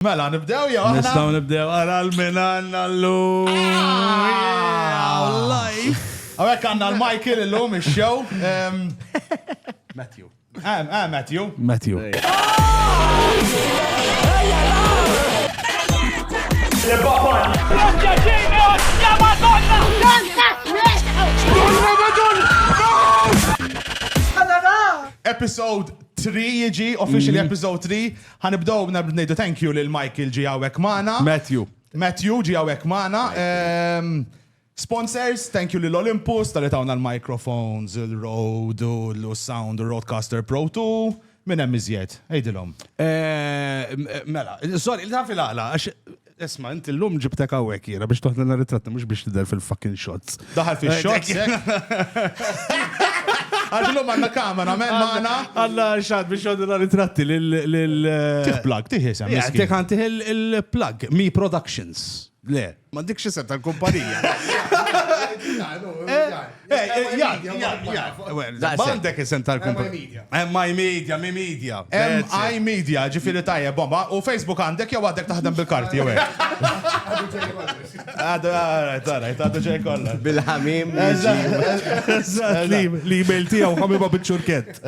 Mela, nibdew jew aħna? Nistgħu nibdew ara l-min għandna llum. Live! Għawek għandna l-Michael illum ix-show. Matthew. Ah, ah, Matthew. Matthew. Episode 3 jiġi, officially episode 3. Ħa nibdew b'narbtu ngħidu thank you lil Michael ġie hawnhekk magħna. Matthew. Matthew ġie hawnhekk magħna. Sponsors, thank you lil Olympus talli tawna l-microphones, il-Rode u s-sound u r-Rodecaster Pro 2. Min hemm iżjed? Għidilhom. Mela, sorry, taf il-għala, għax Isma, inti l-lum ġibtek għawek jena biex toħna l ritratti mux biex tidher fil-fucking shots. Daħal fil-shots, eh? Għaxlu manna kamera, men maħna. Għalla xad biex għoddu dan it-tratti l- Tiħ plug, tiħ jisem. Jgħatek għan tiħ il-plug, Mi Productions. Le, ma dikx jisem tal-kumpanija. Eh, Għandek isem tal-kumpanija. MI Media, mi Media. MI Media, ġifiri tajja, bomba. U Facebook għandek jew għadek taħdem bil-karti, jew għek. Għadu ġej kollha. Għadu ġej kollha. Bil-ħamim. L-email tiegħu ħamiba biċ-ċurkett.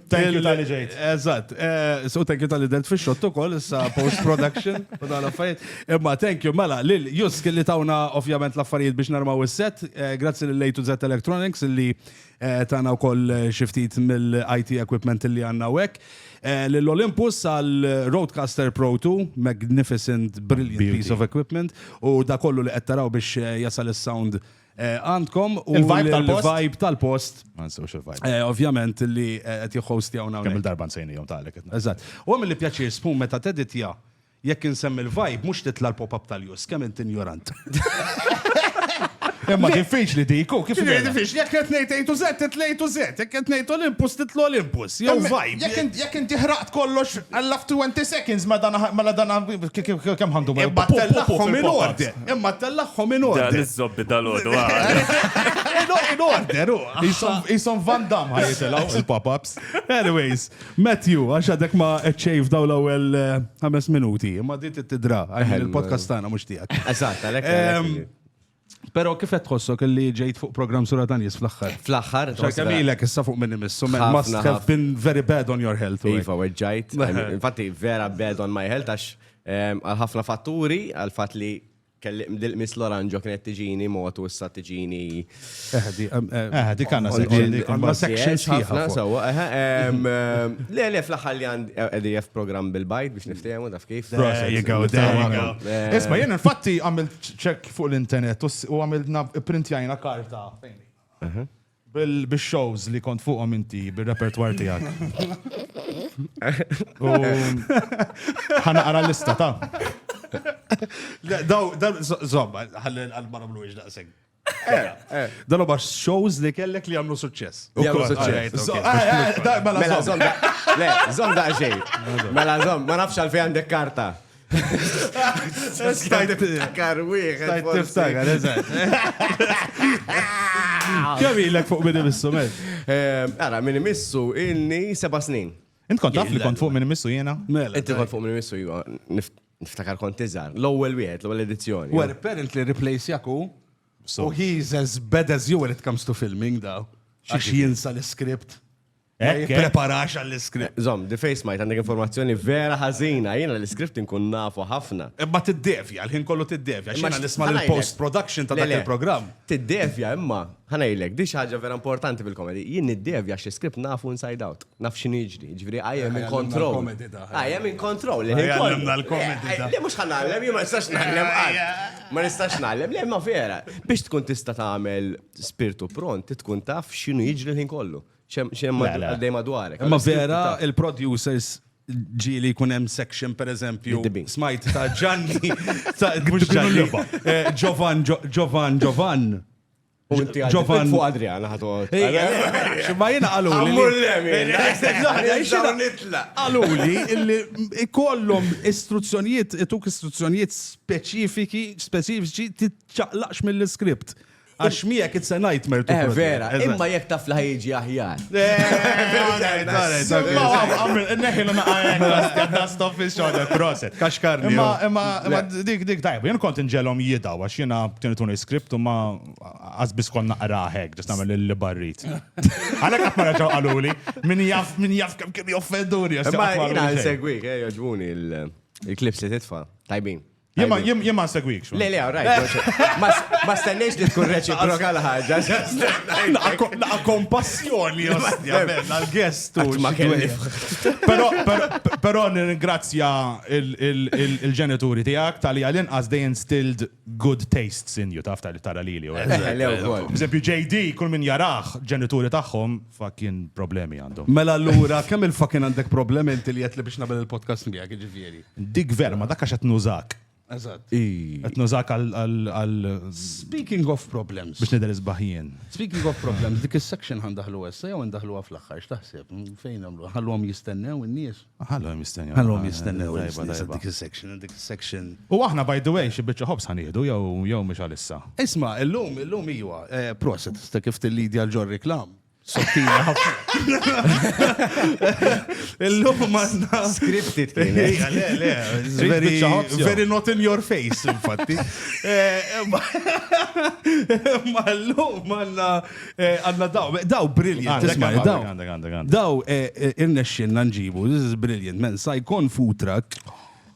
Thank you tal-li ġejt. Eżatt. Eh, so thank you tal-li delt fi xott ukoll, issa post-production, u dan affarijiet. Imma thank you, mela, lil Jusk li tawna ovvjament l-affarijiet biex narmaw is-set. Eh, grazzi lil Lejtu Z Electronics li eh, tana wkoll xiftit mill-IT equipment li għandna hekk. Lil Olympus għal Roadcaster Pro 2, magnificent, brilliant piece of equipment, u da kollu li qed taraw biex jasal is-sound għandkom u l-vibe tal-post. Il-vibe tal-post. Ma nsewx il-vibe. Eh, ovvjament li eh, qed jħosti hawn hawn. Kemm il-darba nsejnihom tagħlek. Eżatt. U għamil li pjaċir spun meta teditja jekk insemmi l-vibe mhux titla' l-pop-up tal-jus, kemm int injorant. Imma diffiċli dik, u kif Ġifieri diffiċli, jekk qed ngħid A to Z, titla' A to Z, jekk qed ngħid Olympus, titla' Olympus, jew vibe. Jekk int- Jekk inti ħraqt kollox għall 20 seconds ma dana ma dana kemm ħandu ma Imma tellaqhom in order. Imma tellagħhom in order. Dan iż-żobbi dal-għodu In order, u. Jisom Van Damme ħajitilgħu il-pop-ups. Anyways, Matthew, għax għadek ma ċejf daw l-ewwel eh, ħames minuti, imma dit it-tidra, il-podcast tagħna mhux tiegħek. Eżatt, għalhekk. Pero kif qed tħossok li ġejt fuq program sura ta' nies fl-aħħar? Fl-aħħar. X'kemm ilek issa fuq minn imissu, must have been very bad on your health. Iva, weġġajt. Infatti vera bad on my health għax Għal ħafna fatturi, għal fatt li kelli dil-qmis l-oranġo kienet tiġini motu issa tiġini. Eħdi, eħdi kanna section sħiħa. Sawa, le le fl-aħħar li għandi EDF program bil-bajt biex niftehmu taf kif. Isma' jien infatti għamilt ċekk fuq l-internet u għamilna printjajna karta. Bil-shows li kont fuqhom inti, bil-repertoire tiegħek. Ħanaqra l-lista ta'. Daw, dan, zomma, ħalli għal-ma namlu iġ daqseg. Eh, eh. Dan huwa shows li kellek li għamlu suċċess. Jagħmlu suċċess. Mela zom. Le, zom daqsxejn. Mela zom, ma nafx għalfejn għandek karta. Stajt tiftakar wieħed. Stajt tiftakar, eżatt. Kemm ilek fuq minn imissu, mel? Eh, ara, minn imissu ilni seba' snin. Int kont taf li kont fuq minn imissu jiena? Mela. Inti kont fuq minn imissu jiena. Niftakar kont iżgħar. L-ewwel wieħed, l-ewwel edizzjoni. Well, apparently replace jaku. So he's as bad as you when it comes to filming da. Xiex jinsa l-script. Ma jippreparax għall-iskript. Zom, di fejn smajt għandek informazzjoni vera ħażina, jiena l-iskript inkun nafu ħafna. Imma tiddevja, l-ħin kollu tiddevja, xi nisma' l-post production ta' dak il-programm. Tiddevja imma, ħanejlek, di xi ħaġa vera importanti fil-komedi, jien niddevja xi skript nafu inside out, naf x'inhu jiġri, jiġifieri I am in control. I am in control, l-ħin kollu. Għallimna l-komedi ta'. Le mhux ħanallem, jien ma nistax nallem qatt. Ma nistax nallem, le ma vera. Biex tkun tista' tagħmel spirtu pront, tkun taf x'inhu jiġri l-ħin kollu. Xem għaddej madwarek. Ma vera, il-producers ġili kun hemm section per eżempju smajt ta' Ġanni ta' Ġanni Ġovan eh, Ġovan Ġovan Ġovan fuq Adriana ħatu. Ma jina għalu. Għalu li ikollom istruzzjonijiet, ituk istruzzjonijiet speċifiki, speċifiċi, titċaqlaqx mill-skript. Għax miegħek it's a nightmare to Eh, protect. vera, Eżatt. imma jekk taf li ħajġi aħjar. Neħilu naqajek, dust off his shoulder, proset. Kaxkarni. Imma, jew- imma, imma dik, dik, tajb, jien kont nġelom jidaw, għax jena kienu tuni skript u ma għazbis kon naqra hek, ġas namel li barrit. Għalek għatma raġaw għaluli, min jaf, min jaf kem kem joffenduri. għax Imma jaqtma jina għaluli xejn. nsegwik, eh, joġbuni il- il-klips li titfa. Tajbin. Jema, jem, jema segwikx. Le, le, rajt. Ma stennejx li tkun reċiproka l-ħagġa. Naqa kompassjoni, ostja, għal-gest. Ma kelli. Pero, pero, nirringrazzja il-ġenituri tijak tal-li għalin as they instilled good tastes in you, taf tal-li tara li li. Bżempju, JD, kull min jaraħ, ġenituri taħħom, fakin problemi għandhom. Mela l-ura, kemm il-fakin għandek problemi inti li jett li biex nabel il-podcast miegħek, ġifieri. Dik vera, ma dak għax qed nużak. Eżatt. Qed nużak għal. Speaking of problems. Biex nidher isbaħ jien. Speaking of problems, dik is-section ħan daħlu issa jew indaħluha fl-aħħar x'taħseb? Fejn nagħmlu? Ħallhom jistennew in-nies. Ħallhom jistennew. Ħallhom jistennew dik is-section, dik is-section. U aħna by the way xi biċċa ħobs ħanieħdu jew jew mhux għalissa. Isma', illum illum iwa, eh, proset, sta kif tillidja l-ġor reklam. Sottina ħafna. Illum manna. Scripted kien. Le, le, very, very not in your face, infatti. Eh, ma l-lum manna eh, għanna daw, daw brilliant. Daw, eh, irnexxin nġibu, this is brilliant, man, sajkon food truck,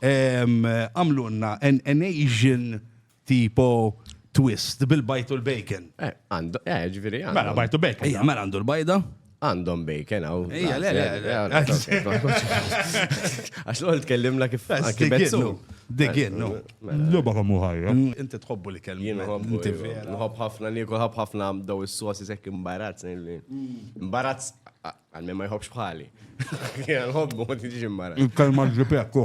għamlunna an Asian tipo twist bil-bajt u l-bacon. Eh, għandu, eh, ġviri għandu. Mela, bajt u bacon. Ejja, mela għandu l-bajda. Għandhom bacon għaw. Ejja, le, le, le. Għax l-għol tkellimna kif. Digin, digin, no. Loba għamu ħajja. Mm, inti tħobbu li kellim. Jien nħobbu. Nħobb ħafna li jkun ħobb ħafna daw is-sosi sekk imbarazz. Mm. Imbarazz, għal ma jħobbx bħali. Nħobbu, ma tiġi imbarazz. Il-kelma ġipekku.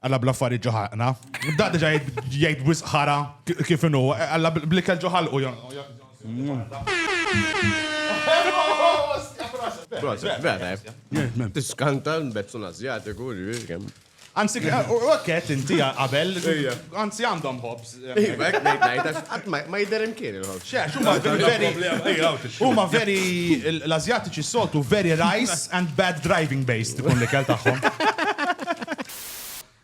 Alla bla affarijiet ġo ħalqna. Da diġa jgħid wisq ħara kif inhu. Alla bl-ikel ġo ħalqu. Tiskanta l-bezzun Azjatiku. Anzi, u għakket inti qabel. Anzi, għandhom ħobs. Ma jider imkien il-ħol. Huma veri, l-Azjatiċi s-soltu veri rice and bad driving based ikun li kell tagħhom.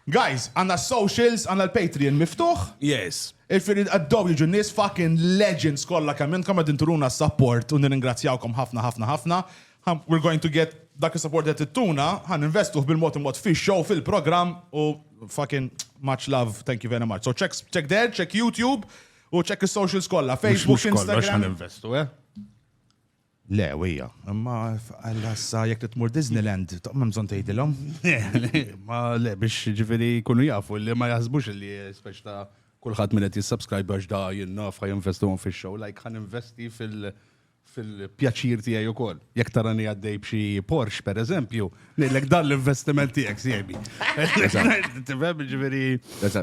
Guys, għanna socials, għanna l-Patreon miftuħ. Yes. Il-firri għaddow jiġu nis fucking legends kolla kemm intkom għadin turuna support u nirringrazzjawkom ħafna ħafna ħafna. Ħa we're going to get dak is-support li qed ittuna, ħa ninvestuh bil-mod il-mod fix-show, fil-programm u fucking much love, thank you very much. So check check there, check YouTube u check is-socials kollha, Facebook, Mhux kollox ħa Instagram. ninvestu, eh? Le, wija, imma għallassa jekk titmur Disneyland, toqma bżonn tgħidilhom. Ma le biex ġifieri jkunu jafu li ma jaħsbux li speċ ta' kulħadd min qed jissubscribe għax da jinnaf ħa jinvestuhom fix-show, like ħa ninvesti fil- fil-pjaċir tiegħi wkoll. Jekk tarani għaddej b'xi Porsche, per eżempju, ngħidlek dan l-investiment tiegħek siegħbi. Tifhem ġifieri.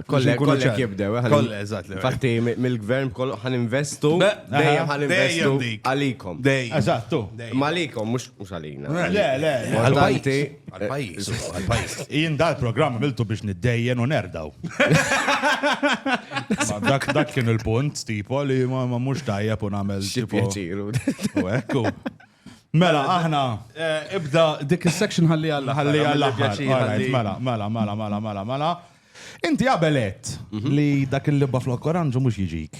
Kollek kollek jibdew. Eh, kollek, eżatt. Fatti mill-gvern kollu ħan investu, dejjem ħan investu għalikom. Dejjem. Eżattu. Malikom, mhux għalina. Le, le. Għal-bajti. Għal-pajis. Għal-pajis. Jien dal program għamiltu biex niddejjen u nerdaw. Dak dak kien il-punt, tipo, li ma mux tajja pun għamel. Xipjaċiru. U ekku. Mela, aħna. Eh, ibda dik il-section ħalli għalla. Ħalli għalla. Mela, mela, mela, mela, mela, mela. Inti għabelet mhm. li dak il-libba flok oranġu mux jiġik.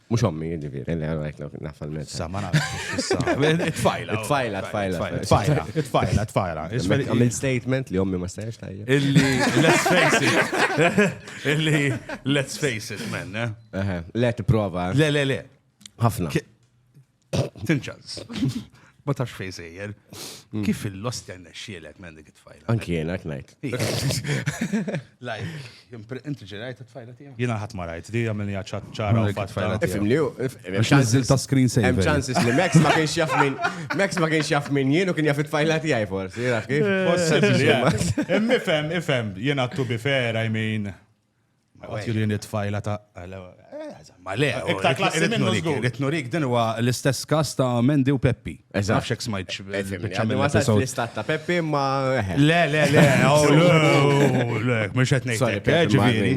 Mux ommi, ġiviri, li għarajt l nafal minn. Sa, ma Tfajla. Tfajla, tfajla. Tfajla, tfajla, tfajla. Għamil statement li ommi ma stajx tajja. Illi, let's face it. Illi, let's face it, man. Eh? Let prova. Le, le, le. Hafna. Tinċaz. Ma tax fej sejjer. Mm. Kif il-lost jenna xielek minn dik it-tfajla? Anki jena knajt. Lajk, inti ġerajt it-tfajla tija? Jena ħat marajt, di għamilni għacċat ċara u fatfajla. Ifim li ju, ċansil ta' screen saver. Hemm ċansis li Max ma kienx jaf minn, Max ma kienx jaf minn jien u kien jaf it-tfajla tija forsi, jaf kif? Possibli, ifem, ifem, jena tu bifera, I mean. Għatjulini tfajla ta' Ma le, iktar klassi minnu żgur. Ritnurik din huwa l-istess kas ta' Mendi u Peppi. Eżatt. Xek smajt xbċamil. Ma sa' l-istat ta' Peppi ma. Le, le, le, le, mux għet nejtek. Ġiviri.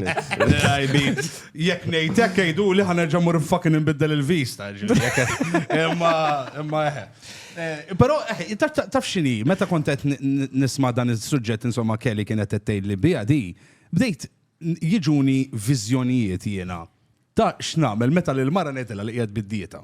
Jek nejtek jgħidu li ħana ġamur fucking nbiddel il-vista. Imma, imma eħe. Pero, taf xini, meta kontet nisma dan il-sujġet, insomma, Kelly kienet t-tejli bija di. Bdejt jiġuni viżjonijiet jiena ta' x'nagħmel meta lil mara ngħidilha li qiegħed bid-dieta.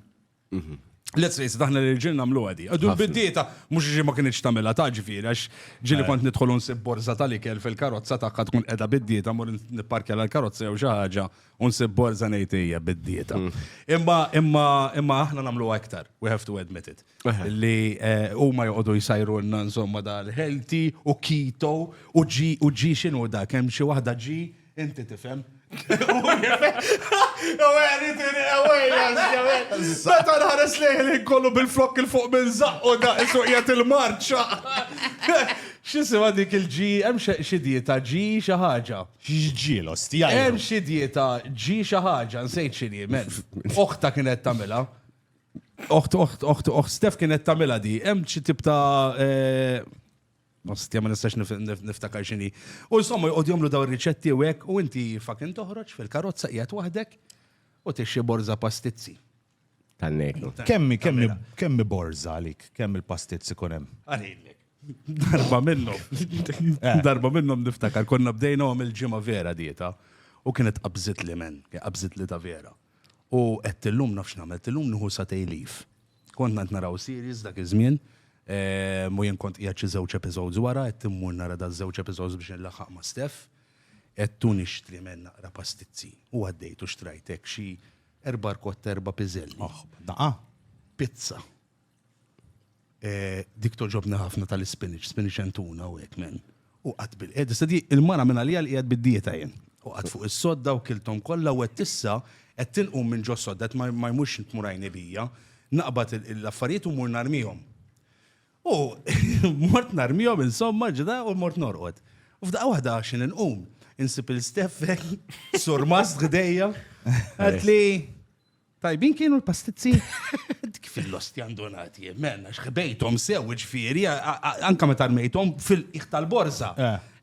Mhm. Let's face it, aħna l-irġiel nagħmlu għadi. Għadu bid-dieta, mhux ġi ma kienx tagħmilha ta' ġifieri, għax ġieli kont nidħol u nsib borża tal-ikel fil-karozza tagħha tkun qiegħda bid-dieta, mur nipparkja l-karozza jew xi ħaġa Unsib borza ngħid hija bid-dieta. Mm. Imma imma imma aħna nagħmlu aktar, we have to admit it. Li eh, huma joqogħdu jsajrulna insomma dal-healthy u keto u ġi u ġi x'inhu dak hemm xi waħda ġi inti tifhem. Meta nħares lejn kollu bil-flok il-fuq minn zaqqu da' suqjet il-marċa. Xisima dik il-ġi, hemm xi dieta ġi xi ħaġa. X'ġiel, ostja. Hemm xi dieta ġi xi ħaġa, nsejt x'inhi, men. Oħta kienet tagħmilha. Oħt, oħt, oħt, oħt, Stef kienet tagħmilha di. Hemm xi tip ta' eh, Ostja ma nistax nif- nif- niftakar x'inhi. U insomma jqogħdu jagħmlu dawn riċetti u hekk u inti fucking toħroġ fil-karozza qiegħed waħdek u tixxi borża pastizzi. Tan-nejku. Kemmi, kemmi, kemmi borza għalik, kemm il-pastizz ikun hemm. Għalilek. Darba minnhom. Eh. Darba minnhom niftakar konna bdejna għom il-ġimgħa vera dieta u kienet qabżit li men, qabżit li ta' vera. U qed illum nafx nagħmel, illum nħu sa tejlif. Kont ngħid naraw series dak iż-żmien, eh, mu jien kont qiegħed xi żewġ episodes wara, qed immur nara da żewġ episodes biex nlaħħaq ma' Steph, qed tu nixtri men naqra pastizzi. U għaddejt u xtrajtek xi Erba' rkotta, erba' piżelli. Oħ, daqa. Pizza. Eh, dik toġobni ħafna tal-ispinach, spinach and tuna u hekk men. U qatt bil qed issa di il-mara minn għalija li qiegħed bid-dieta jien. U qatt fuq is-sodda u kilthom kollha u qed issa qed tinqum minn ġo sodda qed ma ma jmurx tmur għajni bija. Naqbad il- l-affarijiet u mmur narmihom. U mort narmihom insomma ġda u mort norqod. U f'daqqa waħda xi inqum, insib il-steffek, surmast ħdejja, għatli tajbin kienu l-pastizzi. Dik fil-losti għandonati, menna xħbejtom sew ġifieri, anka meta rmejtom fil-qiegħ tal-borża.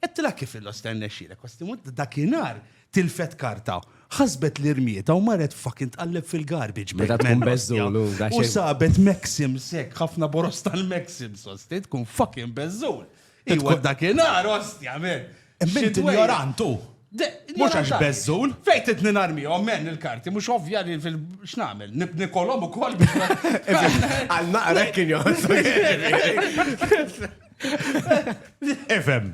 Qedtilha kif il-losti għandna xxilek, kwastimut dakinhar tilfet karta, ħasbet li rmietha u marret fucking tqalleb fil-garbage bag. Meta tkun man, beżżul, ostja. u da U xejn. sabet Maxims hekk, ħafna boros tal-Maxims, osti, tkun fucking beżżul. Iwa tkun- dakinhar, ostja, men. Imma int Xidwejja. ignorant hu. De- Mhux għax ignorant għaliex? beżżul. Fejn trid ninarmihom, men, il-karti, mhux ovvja li fil- x'nagħmel, nib- nikolhom ukoll biex ma- Għal naqrek kien joħossu. Ifhem.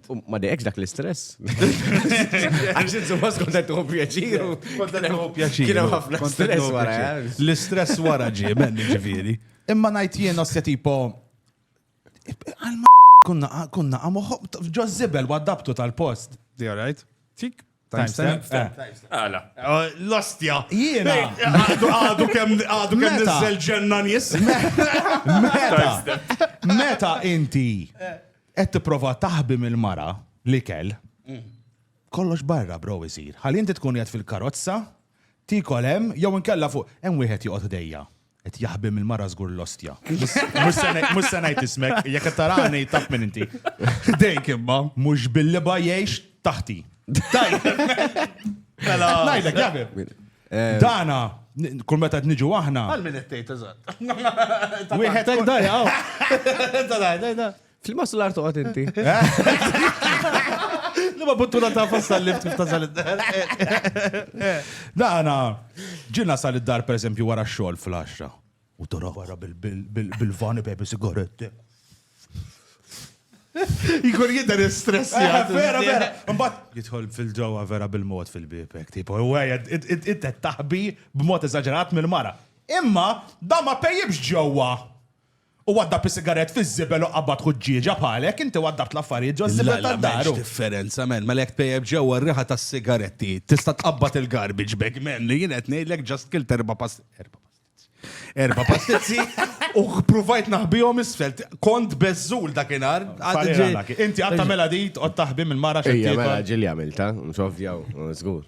Ma dejqx dak l-istress. Għax insumma skont qed tuħu pjaċir. Kont qed tuħu pjaċir. Kien hemm ħafna stress wara. Eh? L-istress wara ġie men ġifieri. Imma ngħid jien osja tipo kunna kunna għamuħu ġozzibel waddabtu tal-post. Di right? Tik Timestamp? Għala. Eh, L-ostja. Jiena. Għadu kem għadu kem nizzel ġenna nis. Meta. Meta inti qed tipprova taħbi mill-mara li kell. Mm. Kollox barra bro isir. Ħalli inti tkun qed fil-karozza, tikol hemm jew inkella fuq hemm wieħed joqgħod idejja. Qed jaħbi mill-mara żgur l-ostja. Mhux se ngħid ismek, jekk qed tarani taf min inti. Dejk imma. Mhux bil-liba jgħix taħti. Mela. Ngħidlek jaħbi. Dana, kull meta qed niġu aħna. Għal min qed tgħid eżatt. Wieħed hekk dajja. Flimma sular toqgħod inti. Li ma buttuna ta' fassa l-lift kif tasal id-dar. Dana, ġina sal id-dar per eżempju wara xogħol fl-10. U tora wara bil-vani pepe sigaretti. Jkun jidher stress eh, jgħid. Vera, vera. Mbagħad jidħol fil-ġewwa vera bil-mod fil-bibek. Tipo, ewwejja, inti taħbi b'mod eżaġerat mill-mara. Imma da ma pejjibx ġewwa. Hu waddab is-sigarett fiż-żibel u qabad ħuġġieġa bħalek, inti waddabt l-affarijiet ġoż-żibel ta' daru. Lalla, m'hemmx differenza, man, mela jekk tpejjep ġewwa r-riħa tas-sigaretti, tista' tqabbad il-garbage bag, man, li jien qed ngħidlek ġast kilt erba' erba' pastizzi. Erba' pastizzi u ppruvajt naħbihom isfel. Kont beżżul dakinhar. Inti qatt tagħmilha di, tqgħod taħbi mill-mara x'qed tiekol. Ejja, mela ġieli għamiltha, mhux ovvja, żgur.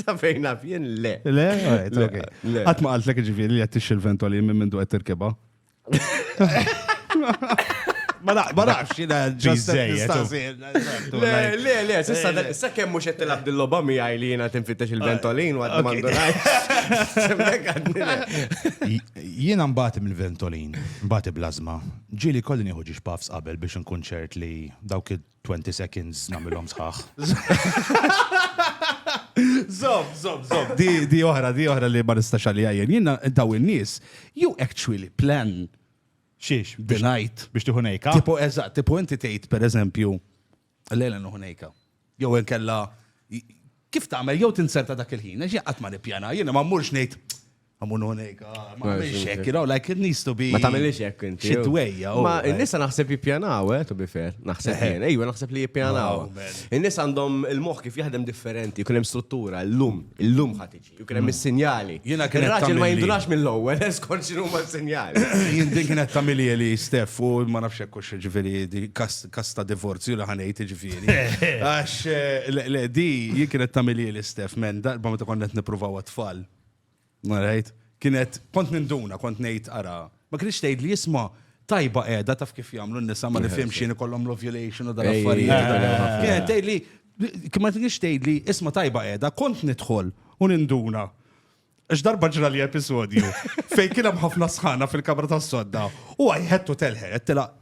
Safejn naf jien le. Le, alright, Le, okay. le. Qatt ma qaltlek ġifieri li qed tixxi l-ventoli minn mindu qed tirkibha. Ma naq- ma naqx jiena ġust qed Biżżejjed, nistaqsi. Le, le, le, sissa, Eh, sa kemm mhux qed tilab dil-logħba miegħi li jiena tinfittex il-ventolin u għad ma ndunajx. Semmek għadni le. Jiena mbagħad mill-ventolin, mbagħad blażma. Ġieli kolli nieħu ġiex puffs qabel biex nkun ċert li dawk id- 20 seconds namilhom sħaħ. Zob, zob, zob. Di, di oħra, di oħra li ma nistax għalija jien. Jiena daw in-nies, you actually plan Xiex, the night. biex tiħu nejka. Tipo eżatt, tipo inti tgħid pereżempju lejla nuħu nejka. Jew inkella kif tagħmel jew tinserta dak il-ħin, għax jien qatt ma nippjana, jiena ma mmurx ngħid Għamun unik, ah, ma għamilx hekk, you know, like it needs to be. Ma tagħmilx hekk inti. Xi dwejja. Ma oh, n-nisa naħseb jippjanaw, eh, to be fair. Naħseb eh. jien, ejwa naħseb li jippjanaw. Oh, in-nies għandhom il-moħħ kif jaħdem differenti, jkun hemm struttura, l-lum, il-lum ħatiġi, jkun hemm mm. is-sinjali. Jiena kien raġel ma jindunax mill-ewwel, eskort x'inhu ma sinjali. Jien din kienet tagħmilija li Stef u ma nafx hekk hux ġifieri kasta divorzju li ħanejt ġifieri. Għax eh, le di jien kienet tagħmilija li Stef men darba meta konna qed nippruvaw għat-tfal. Marajt, kienet, kont ninduna, kont nejt ara, ma kienx tgħid li jisma tajba qiegħda taf kif jagħmlu n-nisa ma nifhimx xi ikollhom l-ovulation u dal affarijiet. Kienet tgħid li ma kienx tgħid li isma tajba qiegħda kont nidħol u ninduna. Ix darba ġra li episodju fejn kien hemm ħafna sħana fil-kamra tas-sodda u għajħettu telħet tilaq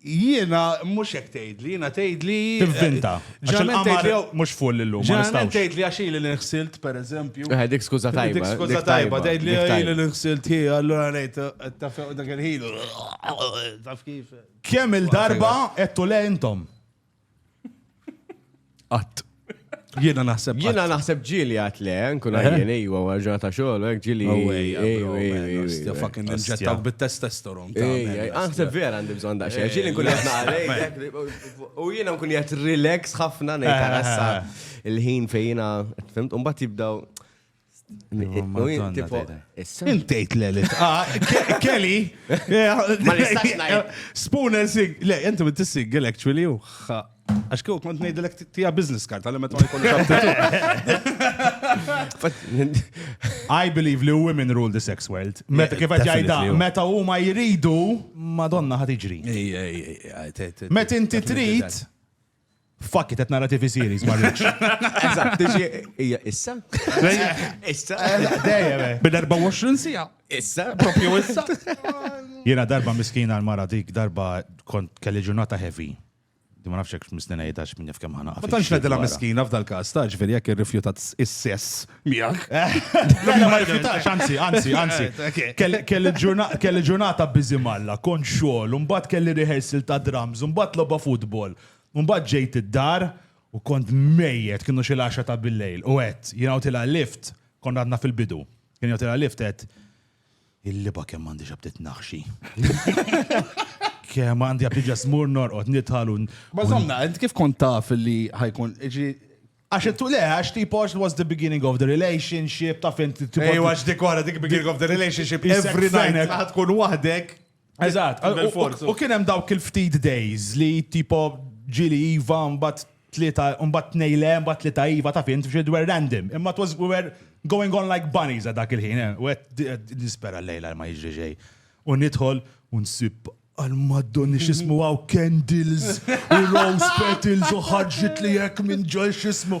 Jiena mhux hekk tgħidli, jiena tgħidli. Tivvinta. Għax il-qamar mhux full illum. Ġeneralment tgħidli għax ili li nħsilt, pereżempju. Eh, dik skuża tajba. Dik skuża tajba, tgħidli ili li nħsilt hi, allura ngħid taf dak il-ħin. Taf kif. Kemm il-darba qed le intom? Qatt. Jiena naħseb. Jiena naħseb ġili għat le, nkun eh? għajjen ejwa għarġa ta' xogħol, hekk ġili. Ewwa, fucking inġettak bit-testosteron. Naħseb vera għandi bżonn daqsxejn. Eh, ġili nkun qed u jiena nkun qed relax ħafna ngħid eh, il-ħin fejjina, fimt, u mbagħad jibdaw Intejt le li ah, Kelly. Ma nistax ngħid. Spoon and sig. Le, inti bint sigel actually u Għax kieku kont ngħidilek tija business card għal meta ma jkollux I believe li women rule the sex world. Meta kif qed jgħidha, meta huma jridu, Madonna ħad iġri. Meta inti trid, Fuck it, qed nara TV series ma rridx. Eżatt, tiġi hija issa? Issa? Dejjem. eh. Bil-24 sija. Issa? Propju issa. Jiena darba miskina l-mara dik, darba kont kelli ġurnata heavy. Di ma nafx hekk misnina jgħidax minn jaf kemm ħana. Ma tantx nedilha miskina f'dal-każ, ta' ġifieri jekk irrifjutat is-sess Miegħek. Mela ma rifjutax, anzi, anzi, anzi. Kelli ġurnata biżi malla, kont xogħol, mbagħad kelli rehearsal ta' drums, mbagħad logħba futbol, mbagħad ġejt id-dar u kont mejjet kienu xi l-10 ta' bil-lejl u għedt jiena tilha lift kont għadna fil-bidu. Kien jgħotilha lift għedt Il-liba kemm għandi xabtit naħxi. Kemm għandi għabdi ġasmur norqot nitħalu. Ma zomna, int kif kont taf li ħajkun, iġi, Għax it le, għax tipo it was the beginning of the relationship, taf int. Ej, għax dik wara dik beginning of the relationship, every night ħad tkun waħdek. Eżatt, u kien hemm dawk il-ftit days li tipo ġili iva mbagħad tlieta mbagħad tnejle mbagħad tlieta iva ta' fint xi dwer random. Imma it was we were going on like bunnies għal dak il-ħin. Eh, u qed nispera l-lejla ma jiġri xejn. U nidħol u nsib għal maddon xismu għaw candles u rose petals u ħarġit li jek minn ġol xismu.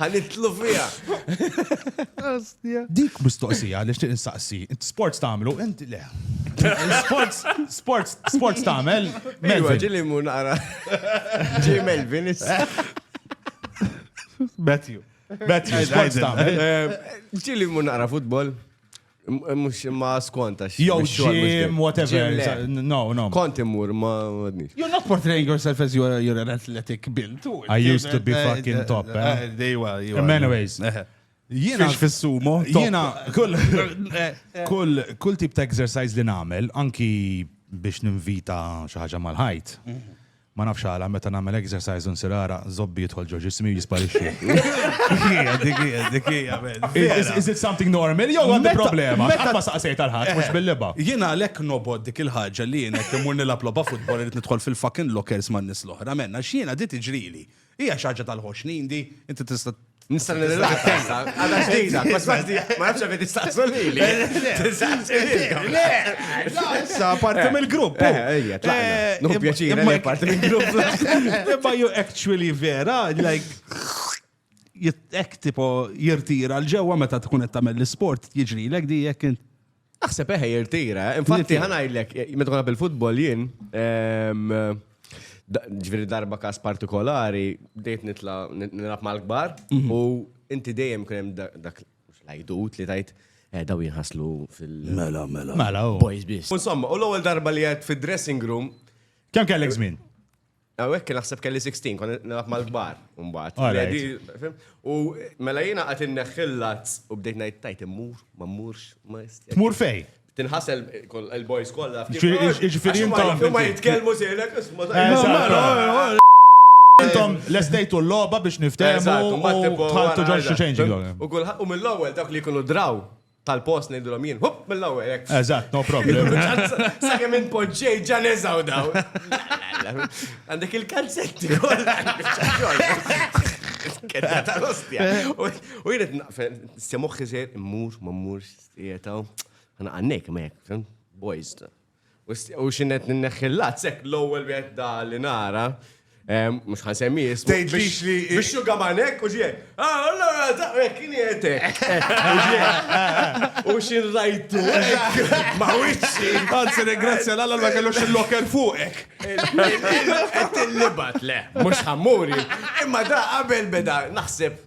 Ħanitlu fija. Dik mistoqsija li xtiq insaqsi. Sports tagħmlu, int le. Sports, sports, sports tagħmel. Melvin. Iva, ġili mu naqra. Ġi Melvin. Matthew. Matthew, sports tagħmel. Ġili mu naqra futbol. Mux ma skonta xie. Jow ġim, whatever. No, no. Kont imur ma għadnix. You're not portraying yourself as you're, you're an athletic build. I used to be eh, fucking eh, top. Eh? Dejwa, dejwa. In many ways. Jiena fis-sumo. Jiena kull kull kull tip ta' exercise li nagħmel anki biex ninvita xi ħaġa mal-ħajt. Mhm. Ma nafx għala meta nagħmel exercise u nsir għaraq, zobbi jidħol ġo ġismi u jisparixxi. Dik hija, dik hija, dik hija, man. Vera. Is it something normal jew għandi Meta- problema? meta- Qatt ma saqsejt għal ħadd mhux bil-libgħa. Jien għalhekk nobgħod dik il-ħaġa li jien hekk immur nilgħab logħba futbol irrid nidħol fil-fucking lockers man-nies l-oħra, man, għax jiena di tiġrili. Hija xi ħaġa tal-ħoxnin di, inti tista' Nista' nirrilax. Għadha ġdida, ma nafx għavet istaqsu li. Le, issa parti eh, mill-grupp. Eh, eh, ejja, tlaqna. Nuhu pjaċir, ma parti mill-grupp. Imma ju actually vera, like jittek tipo jirtira l-ġewwa meta tkun qed tagħmel l-isport jiġri lek di jekk Aħseb eħe jirtira, eh? infatti ħanajlek, meta konna bil-futbol jien, ehm, ġviri darba kas partikolari, dejt nitla nilab mal-kbar mhm. u inti dejjem kunem dak lajdut li tajt eh, daw jinħaslu fil- Mela, mela. Mela, oh. boys bis. Insomma, u l-ewwel darba li għed fil-dressing room. Kemm kellek żmien? Għawek naħseb kelli 16, kon nilab mal-gbar, umbat. U mela jina għat inneħillat u bdejt najt tajt immur, ma mmurx, ma jist. Tmur fej? Tinħasel il-boys kolla. Ġifiri intom. Ma jitkelmu sejlek, isma. Intom l-estejtu l-loba biex niftemu. U mill-ewel dak li kunu draw. tal-post ngħidilhom jien, hup mill-ewwel hekk. Eżatt, no problem. Sakemm inpoġġej ġa neżaw daw. Għandek il-kalzetti Kedda tal-ostja. U jien qed semuħ iżgħir immur ma mmur jietaw. Għana għannek ma jekk, boys. U xinnet ninneħħi l-lazz, hekk l-ewwel wieħed da li nara, mhux ħan semmi jismu. Tgħidlix li. Biex xuga manek u ġie. Ah, allora taqrek kien jetek. U xin rajtu. Ma wiċċi. Anzi, ringrazzja l-għalla ma kellux il-lokel fuqek. Qed tillibat le, mhux ħammuri. Imma da qabel beda naħseb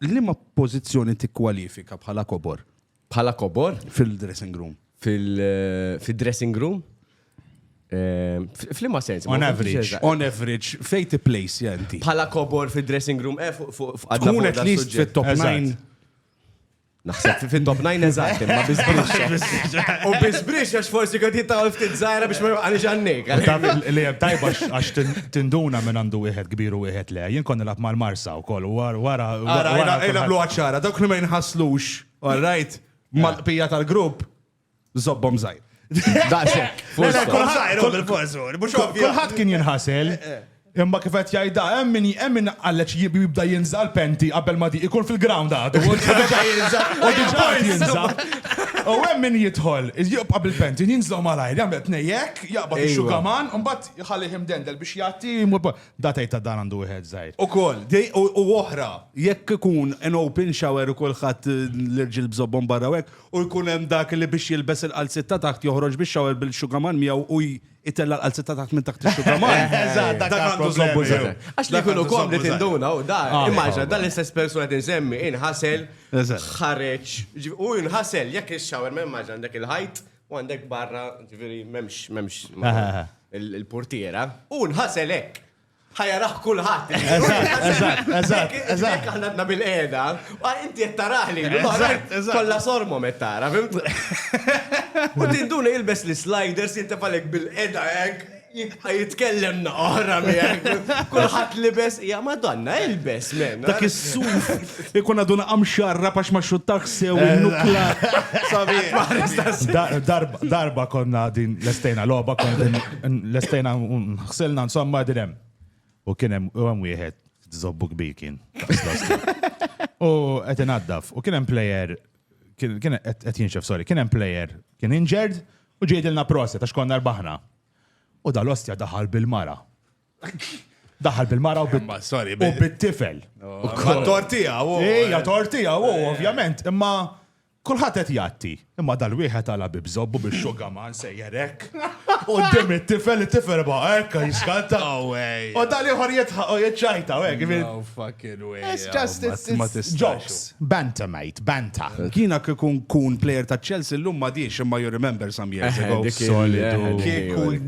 Liema pożizzjoni tikkwalifika bħala kobor? Bħala kobor? Fil-dressing room. Fil-dressing room? Ehm, Flimma sens. On average, on average, fej ti place jenti. Pala kobor fi dressing room, eh, fuq għadna. Kun at least fit top 9. Naħseb fit top 9 eżatt, ma bizbrix. U bizbrix għax forsi għad jittaw ftit zaħra biex ma għalix għannik. Li għab tajba għax tinduna minn għandu wieħed kbiru wieħed le, jien konni lab mal-marsa. ukoll. Wara, wara. Ara, ara, ara nagħmluha ċara, dawk li ma jinħasslux, all right, mal-qbija tal-grupp, żobbhom żgħir. Daqshekk. Kulħadd kien jinħasel. Eh, eh. Imma kif qed jgħidha hemm min hemm min qallex jibda jinżal penti qabel ma di ikun fil-ground għad. U diġà jinżal. U hemm min jidħol, jibqa' bil-penti, jinżlu malajr, jagħmel tnejjek, jaqbad ix-xugaman, u mbagħad ħalli ħimdendel biex jagħti Da tgħid ta' dan għandu wieħed żgħir. Ukoll, u oħra, jekk ikun an open shower u kulħadd l-irġiel bżobbhom barra u hekk, u jkun hemm dak li biex jilbes il-qalziet ta' taħt joħroġ bix-shower bil-xugaman miegħu u jtella' l-qalziet ta' taħt minn taħt ix-xugaman. Eżatt, dak għandu żobbu sew. Għax li jkunu komdi tinduna u da, immaġina dan l-istess persuna qed insemmi inħasel, ħareġ, u jinħasel jekk ix-shower ma immaġina għandek il-ħajt U għandek barra, ġviri, memx, memx, il-portiera, u nħasel hekk. Ħajaraħ kulħadd. Eżatt, eżatt, eżatt. Aħna għandna bil-qeda, inti qed taraħ li kollha sormom qed tara, fimt? U din duna jilbes l-sliders jintefalek bil-qeda hekk. Jibqa' jitkellem naqra miegħek. Kulħadd libes hija Madonna ilbes men. Dak is-suf ikun għadu naqam xarra pax ma xuttax sew il-nukla. Darba konna din l-estejna logħba konna din l-estejna ħsilna insomma din hemm. U kien hemm wieħed zobbu kbir kien. U qed inaddaf u kien hemm plejer kien qed jinxef sorry, kien hemm plejer kien injured U ġie jgħidilna proset għax konna rbaħna. U dal-ostja daħal bil-mara. Daħal bil-mara u bil- Ma, sorry, u bil- bit-tifel. Ma tortija, u. Ejja, tortija, u ovvjament, imma kulħadd qed jatti. Imma dal-wieħed għala bi bżobbu biex xuga ma nsejjer hekk. U dim it-tifel, it-tifel ba' hekk jiskanta. No way. U dal-ieħor jitħaq u jiċċajta, u hekk. No fucking It's just, it's, it's jokes. Banta, mate, banta. Kiena kikun kun player ta' Chelsea l-lum ma diex imma you remember some years ago. Kieku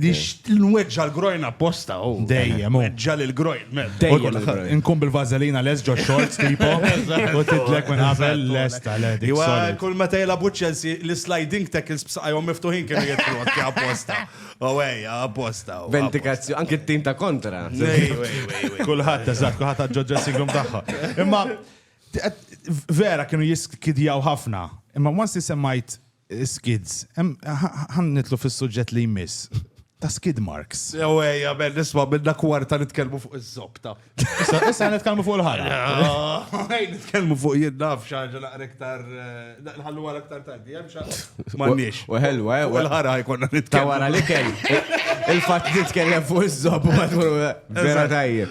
nweġġa l-grojn apposta. Oh. Dejjem. Oh. Nweġġa l-grojn. Dejjem. Nkun bil-vazelina les ġo shorts tipo. U titlek minn għazel les ta' le. Iwa kull meta jela bu Chelsea l-sliding tackles b'saqajhom miftuħin kienu jitlu apposta. Oh, ej, apposta. Vendikazzjoni, anki t-tim ta' kontra. Kulħadd, eżatt, kulħadd għadġo dressing room tagħha. Imma vera kienu jiskidjaw ħafna. Imma once li semmajt eh, skids, ħan nitlu fis-suġġett li jmiss ta' skid marks. Eweja, ben nisma' minna kwarta nitkellmu fuq iż-zobta. Issa nitkellmu fuq il-ħarra. Nitkellmu fuq jiddaf xaġa naqra iktar eh, nħallu għal iktar tardi, hemm xaġa. M'għandniex. U ħelwa, eh, u l-ħarra jkollna nitkellmu. Ta' wara li kell. Il-fatt nitkellem fuq iż-żob u vera tajjeb.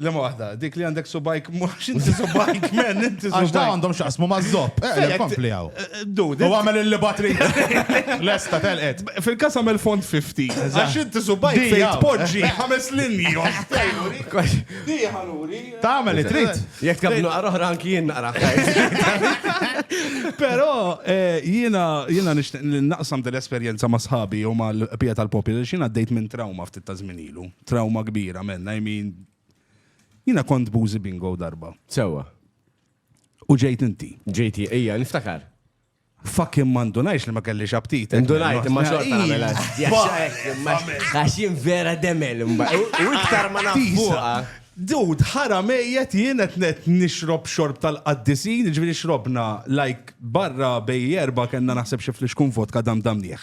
Lema waħda, dik li għandek subajk, mux inti subajk, men, inti subajk. Għax da għandhom xaqsmu mażżob. Eh, kompli għaw. Eh, eh, du, u għamel il batri Lesta, telqet. Fil-kas għamel font 50. Għax inti subajk fejn tpoġġi ħames linji. Di ħaluri. Ta' għamel it-trit. Jek tkabnu għarroħra anki jien naqra. Pero jina jina naqsam dell-esperienza ma' sħabi u ma' l-pija tal-popju, jina d-dejt minn trauma ftit ta' zminilu. trawma kbira, men, I mean, jina kont buzi bingo darba. Sewa. U ġejt inti. Ġejti, ija, niftakar. Fucking mandunajx li ma kelli xabtit. Mandunajx, ma xorta għamela. Għaxin vera demel, mba. U iktar ma nafuqa. Dud, ħara mejjet jien qed net nixrob xorb tal-qaddisin, ġifieri xrobna like barra bej erba' kellna naħseb xi flixkun vodka dam damnieħ.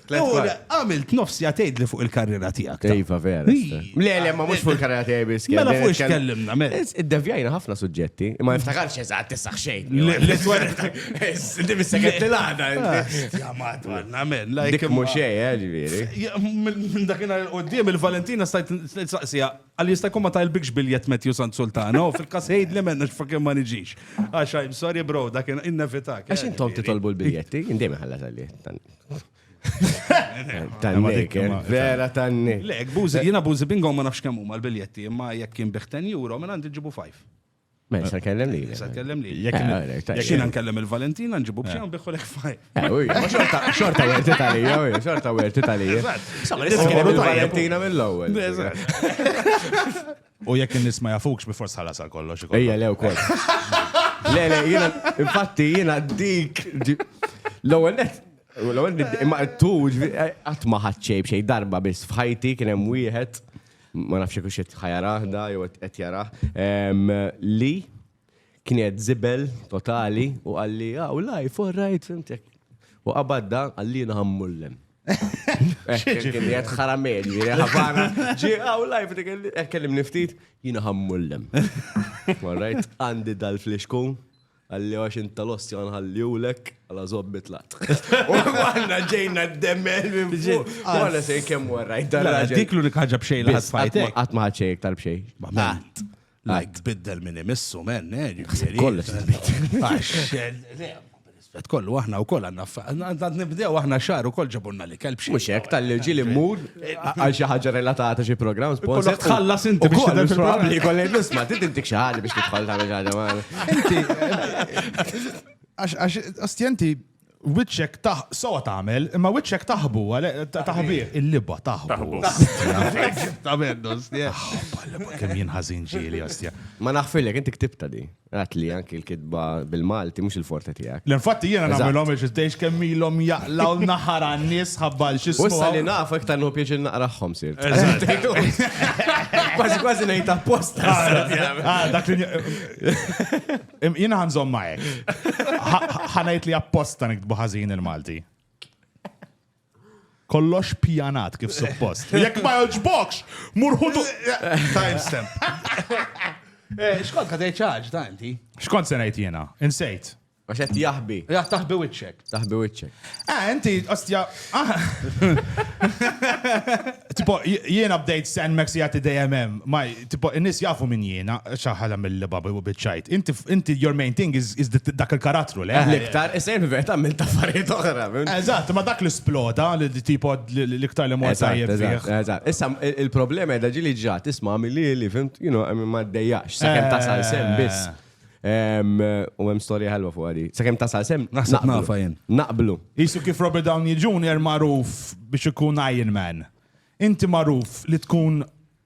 Għamilt nofs ja tgħidli fuq il-karriera tiegħek. Iva, vera. Le, le, ma mhux fuq il-karriera tiegħi biss. Mela fuq x'kellimna, mela. Iddevjajna ħafna suġġetti, ma niftakarx eżatt tissaħ xejn. Le, twar. Inti mis-sekret li l-għada. Ja madwarna, men. Dik mhux xejn, eh, ġifieri. Minn dakinhar il-qudiem il-Valentina stajt saqsija Qal jista' jkun ma tajlbikx biljett Matthew Sant Sultana u fil-każ għidli m'hemm għax fucking ma niġix. Għax I'm sorry bro, dak innevitak. Għax intom titolbu l-biljetti, indejjem iħallas għalli. Tannik, vera tannik. Le, buzi, jina buzi bingo ma nafx kemm huma l-biljetti, imma jekk kien biħ 10 euro, minn għandi ġibu 5. Ma jista' kellem li. Jista' kellem li. Jekk jiena nkellem il-Valentina nġibu b'xi u biħu lek fajn. Xorta werti tal-ija, xorta werti tal-ija. Valentina mill-ewwel. U jekk in-nies ma jafukx bi forsi ħalas għal kollox. Ejja lew kol. Le, le, jiena, infatti jiena dik l-ewwel net L-għol, imma tu, għatma ħadċej bxej darba bis fħajti kienem wieħed ma nafx jekk qed ħajarah da jew qed jarah, li kien qed żibel totali u qalli, ah, u life, all right, fimtek. U qabadda qalli naħammullem. Kien jgħed ħaramel, ħafana, ġi għaw lajf, kellim niftit, jina ħammullem. All right, għandi dal-flixkun, Qalli għax int tal-ostja nħalliwlek għala zob mitlat. U għanna ġejna d-demmel minn ġej. Għanna se jkemmu għarrajt dan. Dik l-unika ħagġa bxej li għatfajt. Għat maħat xej iktar bxej. Għat. Lajk tbiddel minn imissu, men, eh, ġifiri. Kollox tbiddel. Għax, eh, kollu aħna u koll għanna għanna nibdew aħna xar u koll ġabunna Kelb xejn. Mhux hekk tal-irġiel immur għal xi ħaġa relatata xi programm sponsor. Kollok tħallas inti biex tidher fil-programm. Li kollej nisma' trid intik xi ħaġa biex tidħol tagħmel xi ħaġa magħna. Inti għax ostjenti wiċċek taħ sowa tagħmel, imma wiċċek taħbu taħbih. Il-libba taħbu. Taħbu. Kemm jien ħażin ġieli ostja. Ma naħfilek inti ktibta di. Għat li anki l-kitba bil-Malti mhux il-forte tiegħek. L-infatti jiena nagħmilhom biex iżdejx kemm ilhom jaqlaw naħar għan-nies ħabba l xi Wissa li naf iktar nħu pieċi naqraħħom sir. Kważi kważi ngħid apposta. Ah, dak li jiena ħanżhom ma hekk. Ħanajt li apposta nikdbu ħażin il-Malti. Kollox pjanat kif suppost. Jekk ma joġbokx, murħutu. Timestamp. Eh, xkont ka ċaġ, ta' inti? Xkont se ngħid jiena? Insejt. Għax qed jaħbi. Ja taħbi wiċċek. Taħbi wiċċek. Eh, inti, ostja. Ah. Tipo, jiena bdejt sen meksijati dejjem hemm. Tipo, in-nies jafu min jiena, xaħala mill-liba u biċċajt. Inti, inti, your main thing is, is the- dak il-karattru, le? L-iktar, isir fil-verità minn taffariet oħra. fim? Eżatt, ma dak l-isploda, li li tipo li- li- l-iktar li mor Eżatt, tajjeb eżatt, fih. eżatt. Issa, il- il-problema edha ġili ġa, tisma għamili li, fimt, you know, għamil ma d-dejjax, sa' kem Eh. tasal sem biss. Em, U għem storja ħelwa fuq għadi. Sa' kem tasal sem, Naħseb naqblu. nafa jien. Naqblu. Isu kif Robert Downey Jr. maruf biex ikun Iron Man. Inti maruf li tkun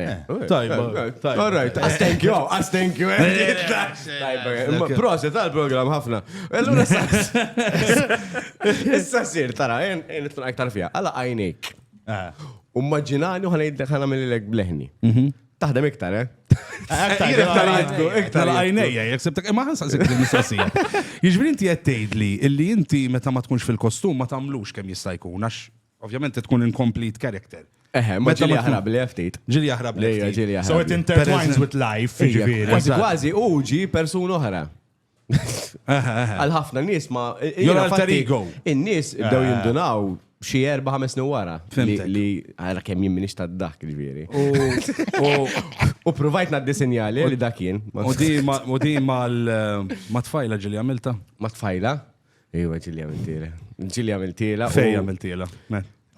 All right, as thank you, as thank you. Proset għal program ħafna. Allura issa sir tara, jen tkun aktar fija. Alla għajnejk. Ummaġinani u ħanajt ħana mill-lek bleħni. Taħdem iktar, eh? Iktar għajnejja, jek sebtek, ma ħansa sebtek il-mistoqsija. Jiġbri inti għed tgħidli illi inti meta ma tkunx fil-kostum ma tamlux kemm jista' jkun għax Ovvjament trid tkun incomplete character. Eħe, ma ġili jaħrab li ftit. Ġili jaħrab li ftit. Ġili jaħrab. So it intertwines with life, ġifieri. Kważi kważi u ġi persuna oħra. Għal ħafna nies ma. Jol alter ego. In-nies bdew jindunaw xi erba' ħames snin wara. Li għara kemm jien minix ta' dak, ġifieri. U provajt naddi sinjali li dak jien. U di ma tfajla ġili għamilta? Ma tfajla? Iwa ġili għamiltila. Ġili għamiltila. Fej għamiltila.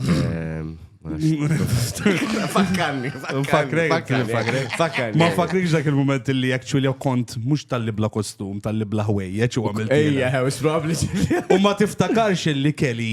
Ehm, fakkarni, fakkarni, fakkarni. Ma fakkarni dak il-moment li actually jew kont mux tal-li bla kostum, tal-li bla ħwejjeċ u għamil. Ejja, it's probably. U ma tiftakarx li kelli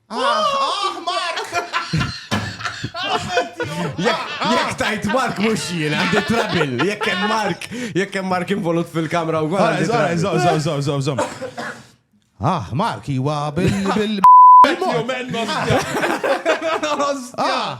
Ah, Mark! Jek tajt Mark mux jina, għandi trabil, jek kem Mark, jek kem Mark involut fil-kamra u għal. Zom, zom, zom, zom, zom. Ah, Mark, jiwa bil-bil. Ah.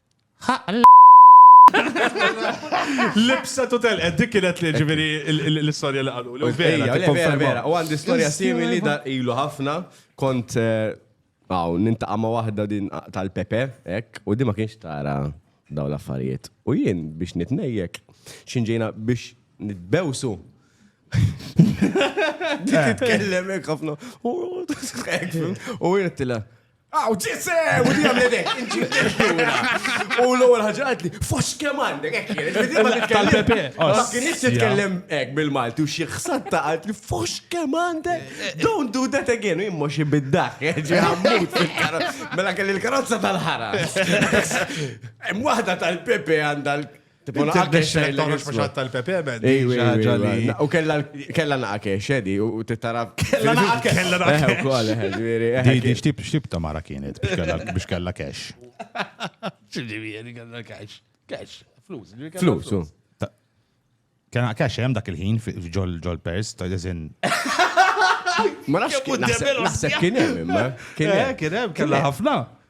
Libsa tu tel, eh, dik kienet li ġiviri l-istoria li għalu. Vera, vera, vera. U għandi istoria simili da ilu ħafna. Kont, eh, għaw, nintaqa ma wahda din tal-Pepe, ek, u di ma kienx tara daw l-affarijiet. U jien biex nitnejjek, xinġejna biex nitbewsu. Titkellem ek ħafna. U jien tila. Aw, ġisse! U di għamlet ek, inġib il-ġura. U l-għol ħagġat li, fos kem għandek, ek jien, il-bidima titkellem. Ma kienx titkellem ek bil-Malti u xie xsat ta' għad li, fos kem għandek, don't do that again, u jimmo xie biddaħ, ġi għammut fil-karozza. Mela kelli l-karozza tal-ħara. Mwahda tal-Pepe għandha U kella naqa kexedi u t-taraf. Kella naqa kella naqa. Di xtib xtib ta' mara kienet biex kella kex. Ġiġivieri kella kex. Kex, flus. Flus. Kena kex hemm dak il-ħin ġol ġol pers ta' dizin. Ma nafx kien hemm. Kien hemm, kien hemm, kella ħafna.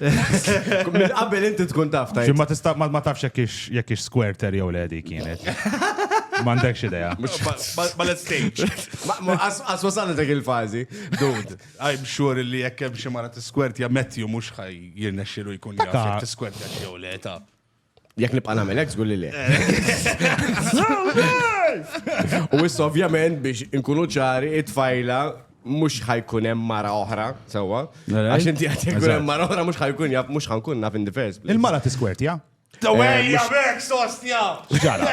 Minn qabel inti tkun taf tajt. Ma tista' ma tafx jekk ix squirter jew le dik kienet. M'għandekx idea. Ballet stage. Għas wasalna dak il-fażi. Dude. I'm sure li jekk hemm xi mara tiskwert ja Matthew mhux ħaj jirnexxilu jkun jaf tiskwert jew le ta'. Jek nibqa' nagħmel hekk żgur li le. U issa ovvjament biex inkunu ċari it-tfajla mhux ħajkun hemm mara oħra, sewwa. Għax inti qed jkun hemm mara oħra mhux ħajkun jaf mhux ħankun naf in the first place. Il-mara tiskwerti, ja? Dawejja bek sostja! Ġara.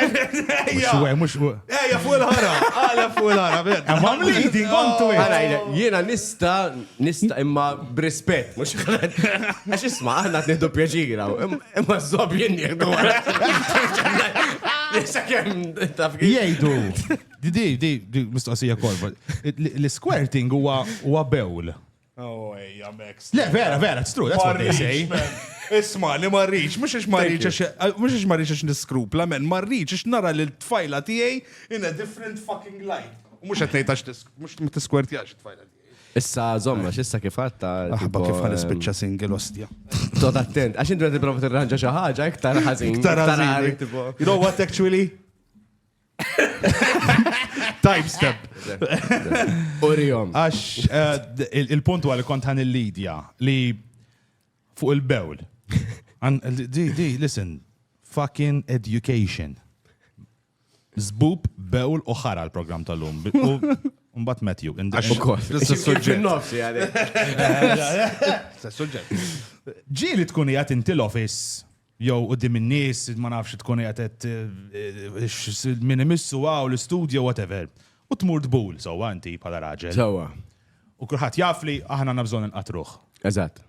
Xwe, mux. Ejja fuq il-ħara, għala fuq il-ħara. I'm leading on to it. Għala, jiena nista Nista' imma b'rispett, mhux għax isma' aħna qed nieħdu pjaċir hawn. Imma żob jien nieħdu Nista' kemm taf Jgħidu. Di di di mistoqsija kolba. L-squirting huwa bewl. Oh, ejja, Max. Le, vera, vera, it's true, that's what they say. Isma, li marriċ, mux ix marriċ, mux ix marriċ ix niskrupla, men, marriċ ix nara li t-tfajla tijaj in a different fucking light. Mux għetnejt għax mux t-skwerti għax t-tfajla tijaj. Issa żomm, għax issa kif għadd ta' Aħba kif ħa nispiċċa single ostja. Tot attent, għax inti qed tipprova tirranġa xi ħaġa iktar ħażin. Iktar ħażin. għalik, tipo. You know what actually? Time step. Urijom. Għax eh, d- il- il-punt huwa li kont ħan il-lidja li fuq il-bewl. Għan- Di, di, listen, fucking education. Zbub, bewl u ħara l-programm tal-lum. U mbagħad Matthew. in the- Għax ukoll. Fin-nofs, jgħali. Sa suġġett. Ġieli tkun qiegħed inti l-office jew qudiem in-nies, ma nafx tkun qiegħed qed, eh, x- min imissu għaw l-istudju whatever. U tmur tbul sewwa inti bħala raġel. Sewa. U kulħadd jaf li aħna għandna bżonn inqatruh. Eżatt.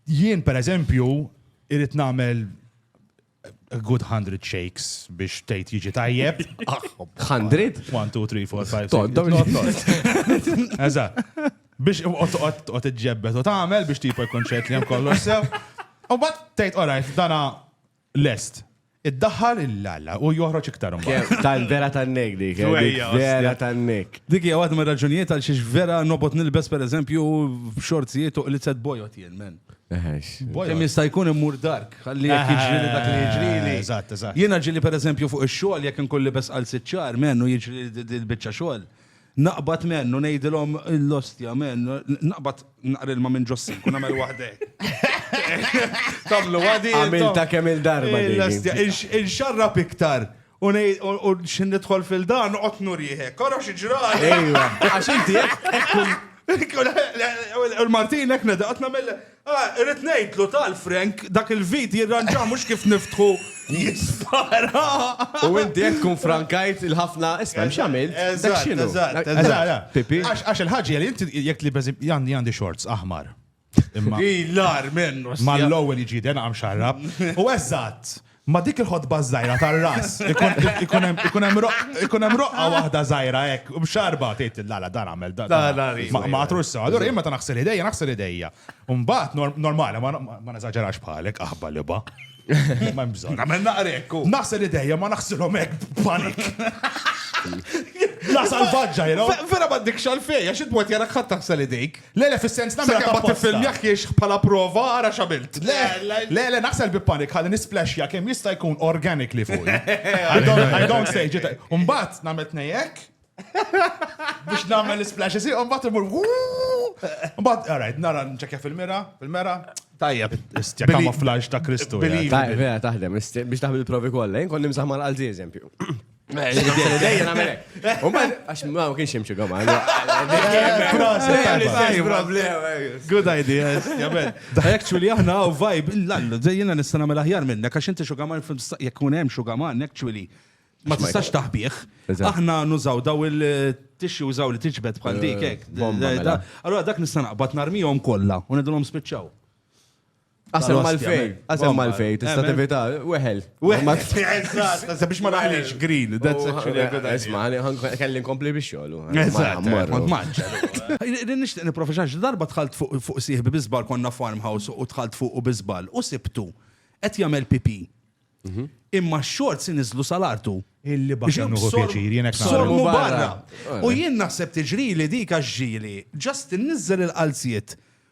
Jien pereżempju irrid nagħmel a good hundred shakes biex tgħid jiġi tajjeb. Hundred? One, two, three, four, five, six. Eża. Biex qod iġġebbet u tagħmel biex tipo jkun ċert li hemm kollox sew. U bat tgħid orajt dana lest. Id-daħħal il-lalla u joħroġ iktar mbagħad. Tal vera tan-nek dik, vera tan-nek. Dik hija waħda mir-raġunijiet għal xiex vera nobot nilbes pereżempju xorzijiet u qlitzet bojot jien men. Kemm jista' jkun immur dark, ħalli jekk jiġri li dak li jiġri li. Eżatt, eżatt. Jiena ġieli pereżempju fuq ix-xogħol jekk inkun libes għal sitt xahar menn u jiġri l-biċċa xogħol. Naqbad menn u ngħidilhom l-ostja menn, naqbad naqra ilma minn ġossik u nagħmel waħda hekk. Tagħmlu għadi. Għamilta kemm il-darba. Inxarrab iktar U nej, u xin nidħol fil-dan, noqgħod nurjieħek. Kora xi ġrali. Ejwa, għax inti U l-Martin hekk nedaqt nagħmel. Ah, irrid ngħidlu tal-Frank dak il-vid jirranġa mhux kif niftħu jispara. U inti hekk tkun frankajt il-ħafna isma' x'għamil. Dak x'inhu. Pipi. Għax il-ħaġi li inti jekk li għandi għandi shorts aħmar. Lar minnu. Ma l-ewwel jiġiden għam xarrab. U eżatt, ma dik il-ħodba żgħira tar-ras ikun hemm roqqa waħda żgħira hekk mxarba tgħid la la dan għamel dan. Ma għatrux sew. Allura jien meta naħsel idejja naħsel idejja. U mbagħad normali ma neżaġerax bħalek aħba liba. Ma hemm bżonn. Nagħmel naqrek. Naħsel idejja ma naħsilhom hekk b'panik. La salvaġġa, you know? Vera ma dik xalfej, għax id-mwet jarak ħadd taħsel idejk. Le le fis-sens nagħmilha Sakemm ma tapposta. tiffilmjahiex bħala prova ara x'għamilt. Le le le naħsel bi panic ħalli nisplashja kemm jista' jkun organically fuqi. I don't I don't say ġiet hekk. U mbagħad nagħmel tnej hekk biex nagħmel l-isplash isir u mbagħad imur wuu. U mbagħad all right nara nċekkja fil-mira, fil-mera. Tajjeb. Istja Believe- camouflage ta' Kristu. believe- jgħid. Ta' vera taħdem, ist- biex taħdem il-provi kollha. Jien kont nimsaħ mal-qalzi eżempju. Dejja namel hekk. U man għax ma kienx hemm xi gama. Good idea, jabel. Actually aħna u vibe l-allu, dejjina nista' nagħmel aħjar minnek għax inti xugama jekk kun hemm xugama actually ma tistax taħbih. Aħna nużaw daw il tixi użaw li tiġbed bħal dik hekk. Allora dak nista' naqbad narmihom kollha u nidulhom spiċċaw. Qasem mal-fej, qasem mal-fej, tista' tevita, weħel. Weħel, ma t biex ma naħlix grill, that's oh, actually a good idea. Isma, kelli nkompli biex xogħlu. Kont maġġa. Nixtieq niprofeċax, darba tħalt fuq sieħbi bizbal konna farmhouse u tħalt fuq u bizbal u sibtu qed jagħmel pipi. Mhm. Imma x-xort si niżlu salartu. Illi baxa nuħu pjaċir, jenek Sormu barra. U jien naħseb tiġri li dika ġili, ġast nizzel il-qalziet.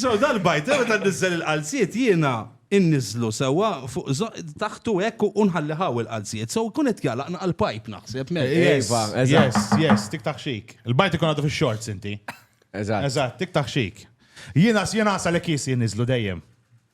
So, dal-bajt, għu ta' nizzel il-qalziet jiena innizlu sewa fuq taħtu ekk u nħalli ħaw il-qalziet. So, kunet jgħalaq naqal pajp naħseb. Ejva, yes, yes, tik taħxik. Il-bajt ikun għadu fil-shorts inti. Eżat. Eżat, tik taħxik. Jiena s-jena sa' l-ekis jinnizlu dejjem.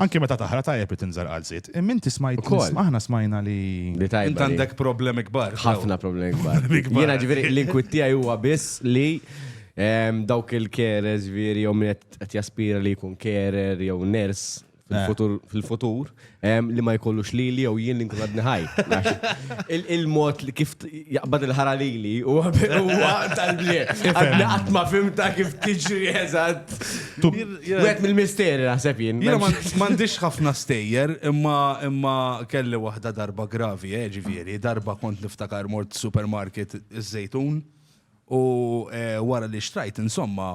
Anki meta taħra tajjeb li tinżar għal żied. Imma inti smajt ukoll. Aħna smajna li. Li tajjeb. Int għandek problemi kbar. Ħafna problemi kbar. Jiena ġifieri l-inkwit tiegħi huwa biss li ehm, dawk il-keres veri jew min qed jaspira li jkun kerer jew ners Eh. fil-futur li ma jkollux li li jew jien li nkun għadni ħaj. Il-mod li kif jaqbad il-ħara lili u huwa tal-bli. Għadna qatt ma fimta kif tiġri eżatt. Wet mill-misteri naħseb jien. Jiena m'għandix ħafna stejjer, imma imma kelli waħda darba gravi, eh, ġifieri, darba kont niftakar mort supermarket iż-żejtun u eh, wara li xtrajt insomma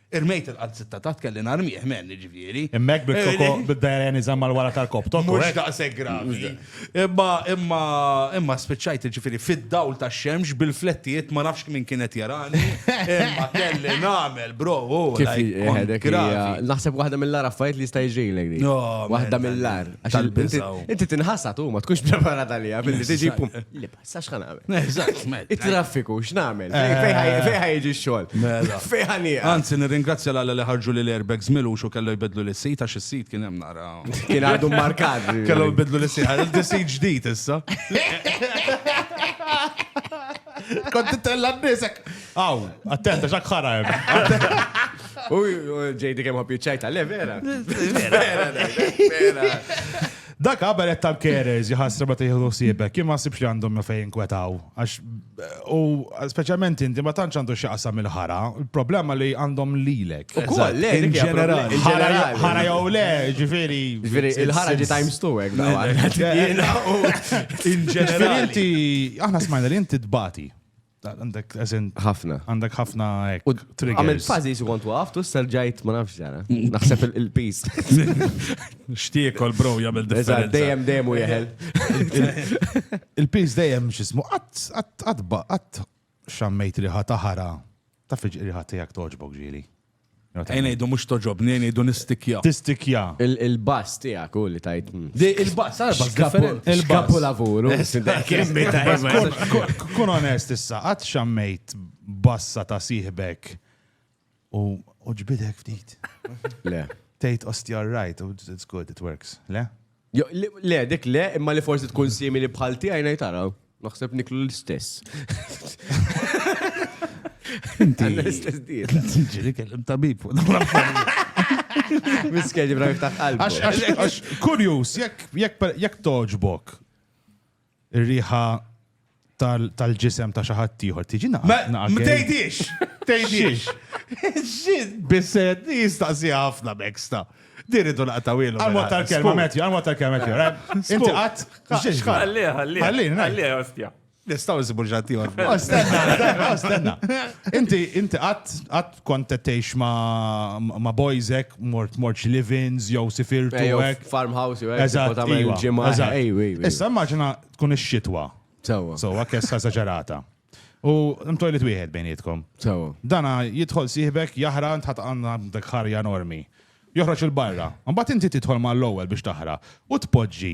Irmejt il-qalziet ta' taħt kelli narmih, men, jiġifieri. Imma hekk bil-koko bid-dajrien iżamm mal-wara tal-koptok. Mhux daqshekk gravi. Imma, imma, imma spiċċajt jiġifieri fid-dawl tax-xemx bil-flettijiet ma nafx min kien qed jarani, imma kelli nagħmel, bro, u like gravi. Naħseb waħda mill-agħar affarijiet li jista' jiġrilek dik. Waħda mill-agħar. Inti tinħasad u ma tkunx preparat għaliha billi tiġi pum. Sa xħan għamil? Eżatt, mela. Il-traffiku, x'namel? Eh. Fejħa jiġi xogħol. Mela. Fejħa nija. Anzi, nirringrazzja l-għalla li ħarġu li l-airbags milu xo kellu jbedlu l-sit, għax il-sit kien hemm nara. Kien għadu markat. Kellu jbedlu l-sit, għal il-sit ġdijt issa. Kont tella n-nisek. Aw, attenta, xak ħara U ġejdi kem ħobju ċajta, le vera. Vera, vera. Dak qabel qed tal-carers jħassra meta jieħdu ħsiebek, jien ma ħsibx li għandhom ma fejn kwetaw. Għax u speċjalment inti ma tantx għandu x'jaqsam il-ħara, il-problema li għandhom lilek. Ukoll, le, In dik hija general. problema. In Ħara ġenerali. ħara jew le, ġifieri. Ġifieri, il-ħara ġi times two hekk dawa. Jiena u in Ġifieri ġenerali. inti aħna smajna li inti tbati. Għandek eżen. Ħafna. Għandek ħafna ek. Għamil fazi su kontu għaftu s-serġajt ma nafx zara. Naħseb il-pis. Xtiekol bro jgħamil differenza. Dejem dejem u jħel. Il-pis dejem xismu għat għat għat xammejt riħa taħara. Taf il-riħa tijak toġbok ġili. Ejn ngħidu mhux toġobni, ejn ngħidu nistikja. Tistikja. Il-bass tiegħek u li tajt. Il-bass, għal bass differenti. Il-kapu lavuru. Kun onest issa, qatt xammejt bassa ta' siħbek u ġbidek ftit. Le. Tejt ostja right, it's good, it works. Le? Jo, li- Le, dik le, imma li forsi tkun simili bħal tiegħi ngħid tara. Naħseb niklu l-istess. Inti. L-istess diet. Ġiri kellim tabib fuq dawn l-affarijiet. Miskel ġibra miftaħ qalbu. Għax, għax, għax, kurjus, jekk, jekk, per- jekk toġbok, Ir-riħa tal-ġisem ta' xi ħadd ieħor tiġi naqgħa. Ma tgħidix! Tgħidix! X'ġid bised jistaqsi ħafna beksta. Diridu naqtaw ilu. Għal mod tal-kelma Matthew, għal mod tal-kelma Matthew. Inti qatt. Ħalli, ħalli. Ħalli, ħalli, ostja. Nistaw nsibu ġanti għor. Ostenna, ostenna. Inti, inti qatt, qatt kont qed tgħix ma' bojżek, mort mort xi live-ins jew sifirtu u hekk. Farmhouse jew hekk. Issa immaġina tkun ix-xitwa. Sewwa. Sewwa kessa esaġerata. U mtojlit wieħed bejnietkom. Sewwa. Dana jidħol sieħbek jaħra ntħat għandna dak ħarja enormi. Joħroġ il-barra. Mbagħad inti tidħol mal-ewwel biex taħra u tpoġġi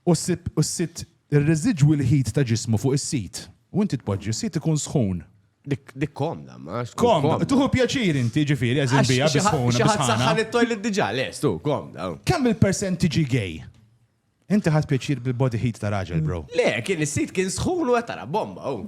U ssib, u ssib ir-residwi l-ħid ta' ġismu fuq is-sit. U inti tpoġġi, is-sit ikun sħun. Dik, dik komda, ma għax tkun komda. Komda, tieħu pjaċir inti, jiġifieri, għeżin biha, bi sħuna, bi sħana. Xi ħadd saħħan it-toilet diġà, le, stu, komda. Kemm il-persent tiġi gay? Inti ħadt pjaċir bil-body heat ta' raġel, bro. Le, kien is-sit kien sħun u qed tara bomba, hu.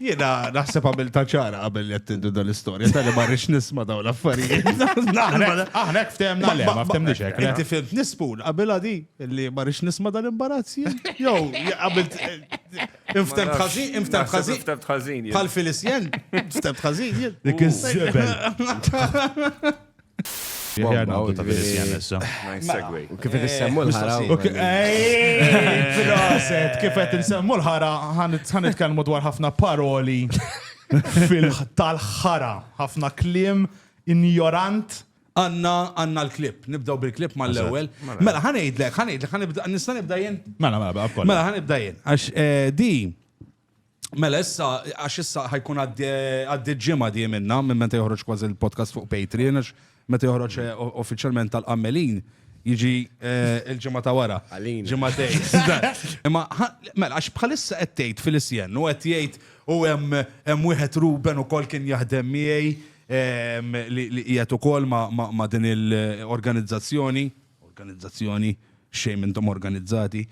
Jiena naħseb għamilta ċara qabel li qed tindu dan l-istorja, tali ma rridx nisma' dawn l-affarijiet. Aħna hekk ftemna le, ma ftemniex hekk. Inti fimt nispun qabel di li ma rridx nisma' dan l-imbarazz jien. Jew qabel inftemt ħażin, inftemt ħażin. Ftemt ħażin. Bħal Filisjen, ftemt ħażin jien. Dik iż-żebel. Jgħarna għaddu ta' Venetian issa. Kif qed issemmu l-ħara. Proset, kif qed insemmu l-ħara, ħan nitkellmu dwar ħafna paroli fil-tal-ħara, ħafna kliem injorant għanna għanna l-klip, nibdaw bil-klip ma l-ewel. Mela, ħanejdlek, ħanejdlek, ħanibda, nista nibda jen? Mela, mela, baqqa. Mela, ħanibda jen, għax eh, di, Mela issa, għax issa ħajkun għaddi ġimgħa di minna, minn meta joħroġ kważi il-podcast fuq Patreon, għax meta joħroġ eh, uffiċjalment tal-qammelin, jiġi eh, il-ġimgħa ta' wara. Ġimgħa Imma mela għax bħalissa qed tgħid fil-isjen u qed jgħid u hemm wieħed Ruben ukoll kien jaħdem miegħi ehm, li qiegħed ukoll ma' din il-organizzazzjoni. organizzazzjoni, shame intom organizzati,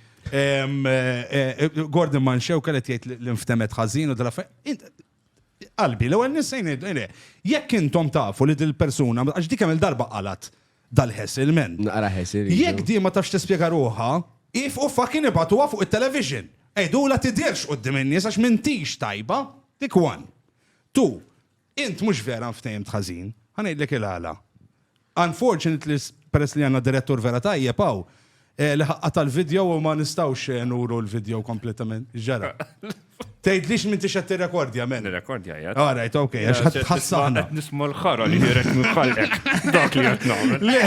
Gordon Manxew kellet jgħid li nftemet ħażin u dal-affarijiet. Qalbi, l-ewwel nissejn ngħidu, jekk intom tafu li dil-persuna, għax dik hemm il-darba qalat dal-ħess il-men. Naqra ħess il Jekk di ma tafx tispjega ruħha, if u fucking ibatuha fuq it-television. Ejdula tidirx qudiem in-nies għax m'intix tajba. Dik one. Two, Int mhux vera nftehhimt ħażin. Ħa ngħidlek il-għala. Unfortunately, peress li għandna direttur vera tajjeb hawn, li ħa qata' l-video u ma nistgħux nuru l-video kompletament. X'ġara? Tgħidlix m'intix qed tirrekordja, men. Nirrekordja qiegħed. All right, okay, għax qed tħassarna. Qed nisma' l-ħara li ħireġ minn ħalqek. Dak li qed nagħmel. Le,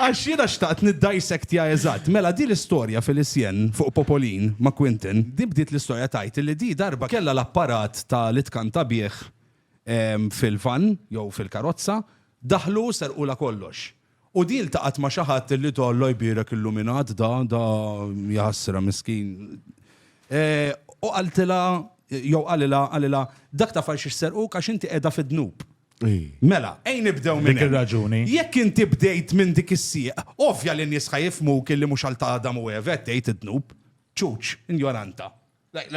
għax jiena xtaqt niddissectja eżatt. Mela din l-istorja Félicien fuq Popolin ma' Quentin, din bdiet l-istorja tgħid li din darba kellha l-apparat ta' li tkanta bih fil-vann jew fil-karozza, daħlu u serqulha kollox. U din ltaqgħet ma' xi ħadd li ta' Alla jbierek illuminat da, da jaħasra miskin. U qaltilha jew qalilha qalilha dak taf għaliex serquk għax inti qiegħda fid-dnub. Mela, ejn nibdew minn dik ir-raġuni. Jekk inti bdejt minn dik is-sieq, ovvja li n-nies ħa jifhmuk li mhux għal ta' Adam u Eva qed tgħid id-dnub. Ċuċ, injoranta. It's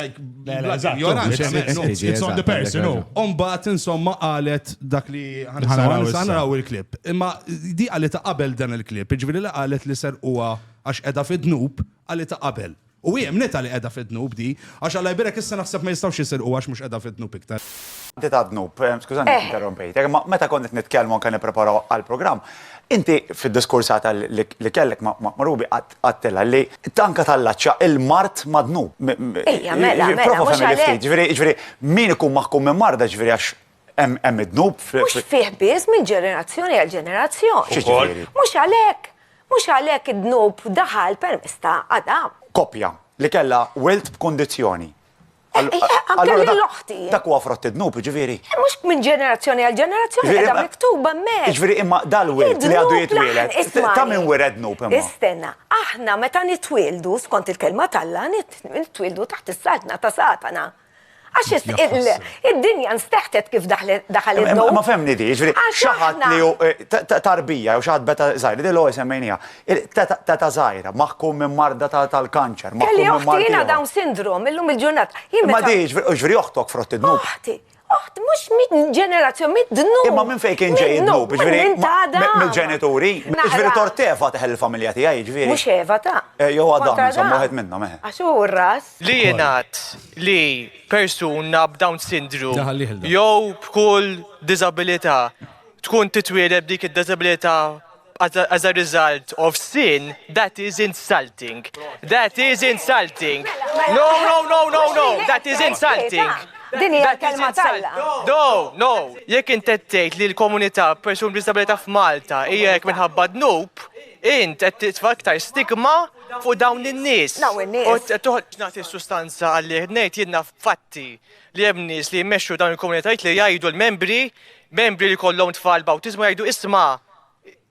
on the person, no? Umbat, insomma, għalet dak li għanaraw il-klip. Imma di għalet ta' qabel dan il-klip, ġviri li għalet li ser uwa għax edha fid-dnub, għalet ta' qabel. U għem nita li edha fid-dnub di, għax għalla jbirek issa naħseb ma jistawx jisir uwa għax mux edha fid-dnub iktar. Inti ta' dnub, skużani, interrompejt. Meta konnet nitkelmu anka nipreparaw għal-program, inti fid-diskursata li kellek ma' Rubi għat tqattel ħalli tanka tallaċċa il-mard madnub. Ejja, mela, mela, mhux għalhekk. Ġifieri, ġifieri, min ikun maħkum minn marda ġifieri għax hemm id-dnub. Mhux fih biss minn ġenerazzjoni għal ġenerazzjoni. Mhux għalhekk, mhux għalhekk id-dnub daħal permezz ta' Adam. Koppja li kellha wilt b'kundizzjoni. Allura l-oħti. Dak huwa frott id-dnub, ġifieri. Eh, mhux minn ġenerazzjoni għal ġenerazzjoni qiegħda miktuba mek. Ġifieri imma dal-wirt li għadu jitwieled. Ta' minn wired dnub imma. Istenna, aħna meta nitwieldu skont il-kelma talla nitwieldu taħt is-saltna ta' Satana. Għax id-dinja nsteħtet kif daħal id-dom. Ma femni di, ġviri, xaħat li ju eh, tarbija, u xaħat beta zaħir, di l-għu jisemmejnija. Teta żgħira, maħkum minn marda tal-kanċer, maħkum minn marda. Kelli oħti jiena Down syndrome, illum il-ġurnata. Ma diġ, ġviri oħtok frott id-dnub. Oħti, oħt, mux minn ġenerazzjon, minn dnub. Imma minn fejn kien ġej id-dnub, ġviri. Minn tada. Minn ġenituri. Ġviri tort Eva teħel il-familja tijaj, ġviri. Mux Eva ta. Eh, jo għadam, insomma, għed minnom, eh. Għaxu ras. Li jenat li persuna b'Down syndrome, jow b'kull disabilita, tkun titwileb dik id-disabilita as a, as a result of sin, that is insulting. That is insulting. No, no, no, no, no, that is insulting. Din hija kelma talla. No, no, jekk intettejt li l-komunità persun b'disabilità f'Malta hija jekk minħabba dnub, int qed titfa' iktar stigma fuq dawn in-nies. Dawn in-nies. Toħod nagħti sustanza għalli ngħid jiena fatti li hemm nies li jmexxu dawn il-komunitajiet li jgħidu l-membri membri li kollhom tfal bawtiżmu jgħidu isma'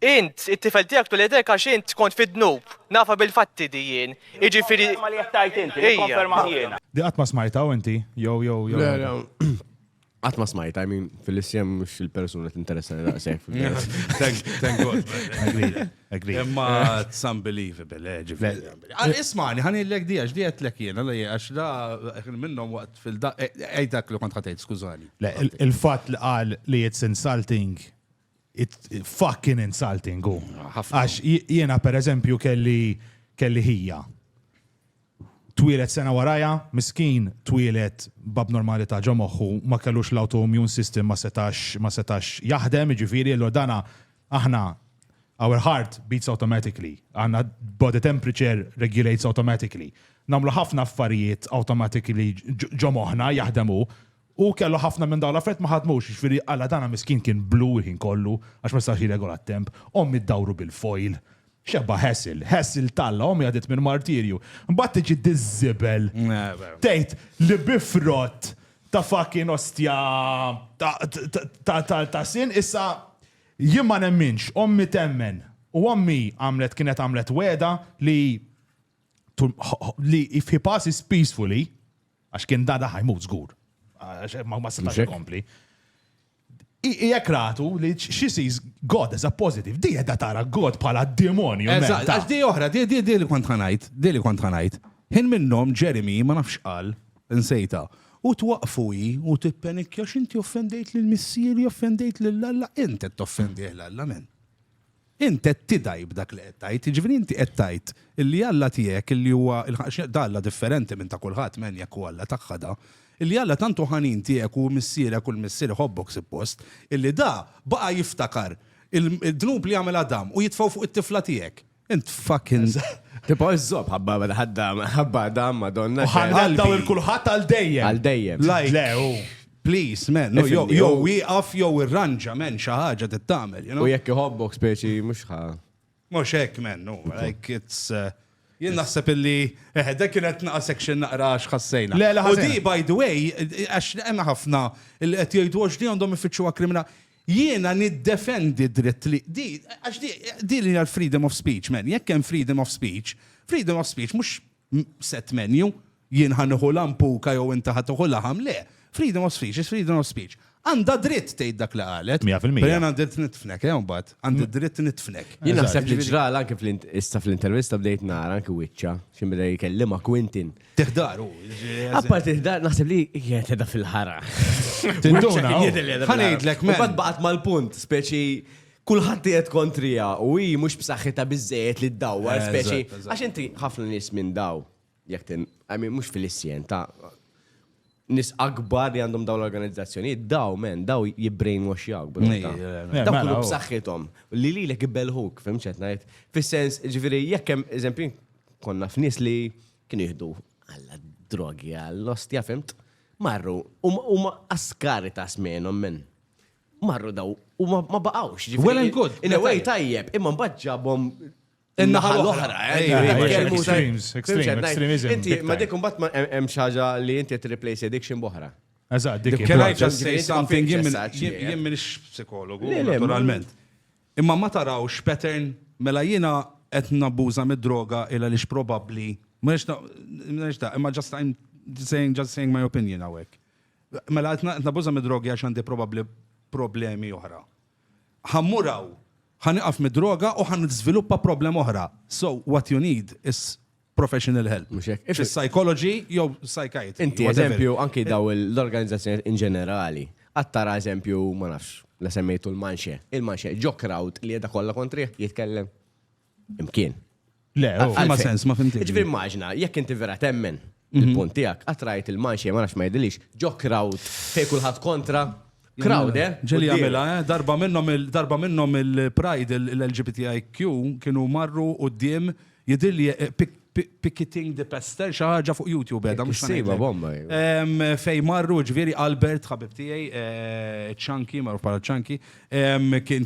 Int, it-tifel tiegħek tul idejk għax int kont fid-dnub. Nafha bil-fatti di jien. Jiġifieri. Nikkonferma li qed tgħid int, nikkonferma jien. Di qatt ma smajtha hawn inti? Jew jew jew. Le le. Qatt ma smajtha, I mean, fil-isjem mhux il-persuna tinteressani daqshekk. Thank thank God. Agreed, agreed. Imma it's unbelievable, eh, ġifieri. Għal ismani, ħan illek di għax di għetlek jien, għalla jien, għax da kien minnhom waqt fil-da. Ejt dak li kont ħatejt, skużani. Le, il- il-fatt li qal li it's insulting fucking insulting u. Għax jiena per eżempju kelli kelli ħija. Twilet sena waraja, miskin twilet bab normalità ġo moħħu ma kellux l-autoimmune system ma setax ma setax jaħdem, ġifieri l dana aħna our heart beats automatically, għandna body temperature regulates automatically. Namlu ħafna affarijiet automatically ġo moħħna jaħdemu U kellu ħafna minn dawn l-affarijiet ma ħadmux, jiġifieri Alla tagħna miskin kien blu l-ħin kollu għax ma setax jirregola t-temp, ommi ddawru bil-foil. X'ebda hassle, hassle t'Alla, ommi għaddiet minn martirju. Imbagħad tiġi diż-żibel tgħid li bi frott ta' fucking ostja ta' sin issa jien ma nemminx, ommi temmen. U ommi għamlet kienet għamlet wegħda li li if he passes peacefully, Għax kien dada ħajmut żgur. Ma setax ikompli. Ijek ratu li she sees God as a positive, di jedda tara God pala demonju. Eżatt, għax di oħra, di di di li kont ħanajt, di li kont ħanajt. Hin minnom Jeremy ma nafx qal, nsejta. U twaqfu i u tippenikja xinti offendejt lil missieri, offendejt lil Alla, inti toffendih l-Alla men. Int qed tidgħi b'dak li qed tgħid, jiġifieri inti qed tgħid illi Alla tiegħek illi huwa da Alla differenti minn ta' kulħadd m'en jekk hu Alla tagħha da, illi Alla tant hu ħanin tiegħek u hu Missierek u l-Missier iħobbok sippost, illi da baqa' jiftakar il-dnub li għamel Adam u jitfgħu fuq it-tifla tiegħek. Int fucking. Tibqa' iżżomm ħabba ħabba Adam Madonna. U ħa ngħaddaw il-kulħadd għal dejjem. Għal dejjem. Le hu. Please, man, no, jew Ifhimni, jew jew- wieqaf jew irranġa, man, xi ħaġa trid tagħmel, you U know? jekk iħobbok speċi mhux ħa. Mhux hekk, man, no, like it's uh, Jien naħseb illi, eh, dak kienet naqa section naqra għax ħassejna. Le, le, U ħażin. di, by the way, għax hemm ħafna li qed jgħidu għax di għandhom ifittxuha kriminal. Jiena niddefendi dritt li di għax di di li hija freedom of speech, man. Jekk hemm freedom of speech, freedom of speech mhux set menu, jien ħa nieħu lampuka jew inti ħa tieħu laħam, le. Freedom of speech is freedom of speech. Għandha dritt tgħid dak li qalet. Mija fil-mija. Però għandha dritt nitfnek, eh, mbagħad. Għandha dritt nitfnek. Jien naħseb li ġral anke issa fl-intervista bdejt nara anke wiċċa xi bda jkellima Quintin. Tiħdar u. Appar tiħdar naħseb li kienet qiegħda fil-ħara. Tinduna. Ħanejdlek minn. Bad baqgħet mal-punt, speċi kulħadd qiegħed kontriha u hi mhux b'saħħitha biżejjed li ddawwar speċi. Għax inti ħafna nies minn daw, jekk tin, għamin mhux fil-issien ta' nis akbar li għandhom daw l-organizzazzjoni, daw men, daw jibbrainwash jawk. Daw kullu b'saħħithom. Li li l-ek belħuk, fimċet najt. Fis-sens, ġifiri, jekkem, eżempju, konna f'nis li kienu jihdu għalla drogi, għall-ostja, fimt? Marru, u ma askari ta' smenom men. Marru daw u ma baqgħux. Well and good. In a way tajjeb, imma mbagħad ġabhom in-naħa l-oħra. Extremes, extremes. Inti ma dik mbagħad hemm xi ħaġa li inti tirreplace addiction b'oħra. Eżatt, dik. Can I just say something? Jien m'iniex psikologu, naturalment. Imma ma tarawx pattern mela jiena qed nabbuża mid-droga illa li probabbli. M'iniex da, imma just I'm saying, just saying my opinion hawnhekk. Mela qed nabbuża mid-drogi għax għandi probabbli problemi oħra. Ħammur hawn, ħa nieqaf mid-droga u ħa niżviluppa problema oħra. So what you need is professional help. Mhux hekk. If it's psychology jew psychiatry. Inti eżempju anki daw l-organizzazzjoni in ġenerali. Attara eżempju ma nafx la semmejtu l-manxe. Il-manxe ġo crowd li jeda kollha kontrih jitkellem. Imkien. Le, oh, ma sens, ma fimti. Ġifi immaġna, jekk inti vera temmen mhm. il-punt tijak, għatrajt il-manxie, ma nafx ma jidilix, ġo crowd, fej kullħat kontra, crowd, eh? Ġeli għamela, eh? Darba minnom il-darba minnom il-pride l-LGBTIQ kienu marru u d-diem jidilli eh, Picketing the Pester, xi ħaġa fuq YouTube qiegħda mhux sejba bomba. Fej marru ġifieri Albert ħabib tiegħi ċanki marru bħala ċanki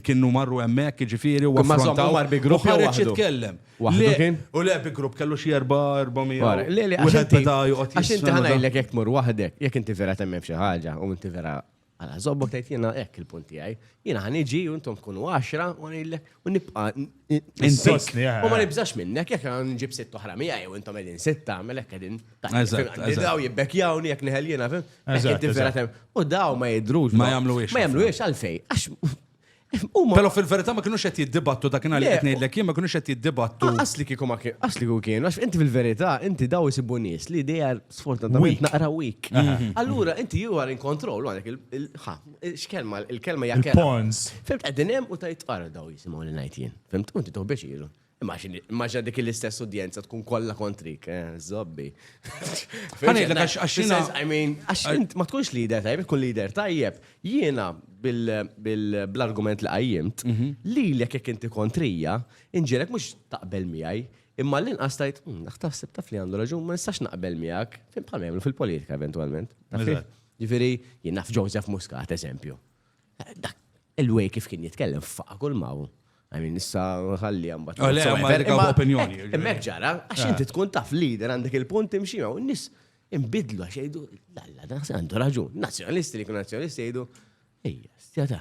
kienu marru hemmhekk ġifieri u affrontaw mar bi grupp ħareġ jitkellem. U le bi grupp kellu xi 400. Le le għax inti joqgħod. Għax inti ħanajlek jekk tmur waħdek, jekk inti vera temmem xi ħaġa u inti vera Għala, zobbok tajt jena ek il-punt tijaj. Jena għan iġi, untom tkunu għaxra, u għan il-lek, u nibqa. Insostni, għan. U ma nibżax minnek, jek għan nġib sitt oħra mi għaj, u untom edin sitta, melek edin. Daw jibbek jawn, jek neħel jena, fim. U daw ma jidrux. Ma jamlu ix. Ma jamlu ix, għalfej. Għax, Pero fil-verità ma kienux qed jiddibattu dak li qed ngħidlek jien ma kienux qed jiddibattu. Asli kieku ma kien, asli kieku kien, għax inti fil-verità inti daw isibu nies li dejja sfortunatament naqra week. Mhm. Allura inti jew għal in kontroll għalek il-ħa, x'kelma, il-kelma jgħakkel. Pawns. Fimt qegħdin hemm u tajt ara daw jisimgħu li ngħid jien. Fimt, inti toħbiex ilu. Immaġina dik l-istess udjenza tkun kollha kontrik, eh, zobbi. Għanidlek għax għaxina. I mean, għax ma tkunx lider tajjeb, tkun lider tajjeb. Jiena bil-argument li għajjimt, mhm. li l jek inti kontrija, inġelek mux taqbel miħaj, Imma l inqas tajt, hmm, naħtaf sib taf li għandu raġun, ma nistax naqbel miegħek, fim bħal jagħmlu fil-politika eventwalment. Ġifieri, jien naf Joseph Muscat, eżempju. Dak il-way kif kien jitkellem faqa kull maw. Għamin, issa ħalli għambat. Għalli għambat għambat opinjoni. Mek ġara, għax inti tkun taf lider għandek il-punt imxima, u nis imbidlu għax jgħidu, lalla, dan għandu raġun. Nazjonalisti li kun nazjonalisti jgħidu, ejja, stjata.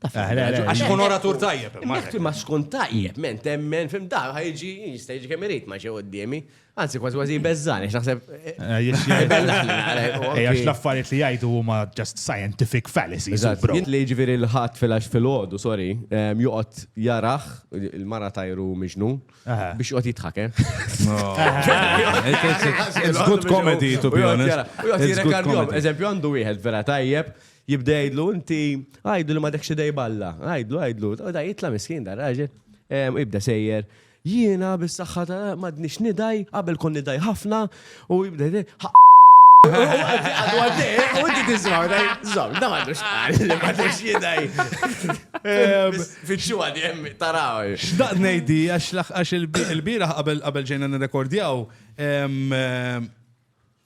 Għax kun oratur tajjeb. Ma skun tajjeb, men temmen, fim da, ħajġi, jista jġi kemerit, ma ġew għoddimi. Anzi, kważi kważi jbeżżani, x'naħseb. Għax l-affarijiet li jgħidu huma just scientific fallacies. Jien li ġifieri l-ħadd fil-għax fil-ħodu, sorry, ehm, joqgħod jaraħ il-mara tajru miġnu biex joqgħod jitħake. It's good comedy, to be honest. U joqgħod jirekardjom, eżempju għandu wieħed vera tajjeb jibdejdlu, inti għajdlu li ma dekx idej balla, għajdlu, għajdlu, da jitla miskin da raġel, ehm, ibda sejjer, Jiena bis-saħħa ta' m'għadnix nidgħi, qabel kont nidgħi ħafna u U inti tismaw, zom, da mandux għal, ma tux jidaj. Fitxu għadi jemmi, taraw. Xdaq nejdi, għax il-bira qabel ġejna n-rekordjaw,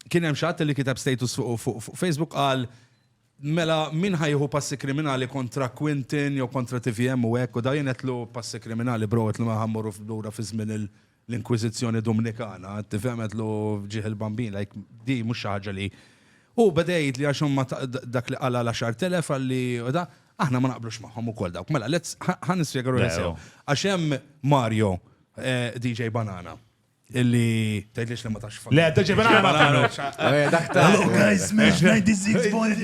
kien hemm xatt li kitab status fuq Facebook għal Mela min ħa jieħu passi kriminali kontra Quintin jew kontra tvm u hekk u dawn jien għedtlu passi kriminali bro għedtlu mela ħa mmorru lura fi żmien l-Inkwiżizzjoni Dumnikana tifhem għedtlu ġieħ il-Bambin like din mhux xi ħaġa li Hu beda jgħidli għax huma dak li qal għal 10,000 qalli u da aħna ma naqblux magħhom ukoll dawk mela let's ħa nispjega ruħi sew għax hemm Mario DJ Banana Illi. Tgħidlix li ma tax fuq. Le, daġi vera ma tagħmilx. Eh, dak ta' Hello guys, mesh 96 point.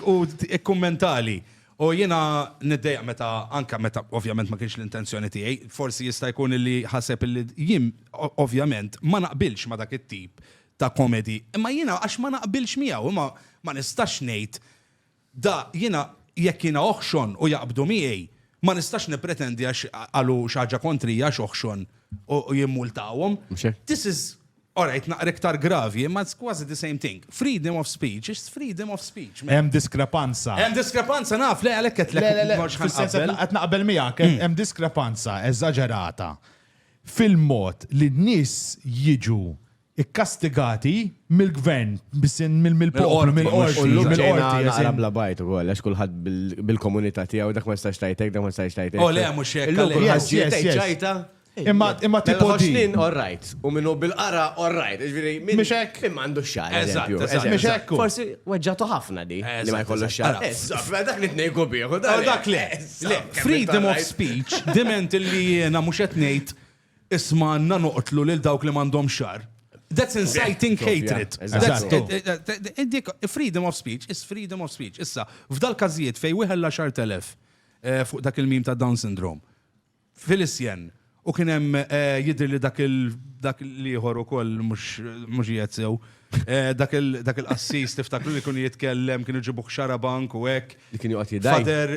U ikkummentali. U jiena niddejja meta anka meta ovvjament ma kienx l-intenzjoni tiegħi, forsi jista' jkun li ħaseb li jien ovvjament ma naqbilx ma dak it-tip ta' komedi. Imma jiena għax ma naqbilx miegħu, imma ma nistax ngħid Da, jiena, jekk jiena oħxon u jaqbdu miegħi, ma nistax nippretendi għax qalu xi ħaġa kontrija għax oħxon u jimmultawhom. This is, all right, naqra iktar gravi, imma it's quasi the same thing. Freedom of speech is freedom of speech. Hemm diskrepanza. Hemm diskrepanza, naf, le għalhekk qedtlek. Le, le, le, fis-sens li qed naqbel miegħek, hemm diskrepanza eżaġerata fil-mod li n-nies jiġu ikkastigati mill-gvern, mill-poplu, mill-qorti, mill-qorti. Imma tipo di. Freedom of speech diment li jiena mhux qed ngħid Isma' għandna noqtlu lil dawk li m'għandhomx xagħar. That's inciting hatred. Freedom of speech is freedom of speech. Issa, f'dal każijiet fejn wieħed l-għaxart elef eh, fuq dak il-mim ta' Down syndrome, fil-isjen, u kien hemm eh, jidri li dak dak l-ieħor ukoll mhux qiegħed sew. Eh, dak il-qassis tiftakru li kun jitkellem kienu ġibu xara bank u hekk. Li kien joqgħod jidaj. Fader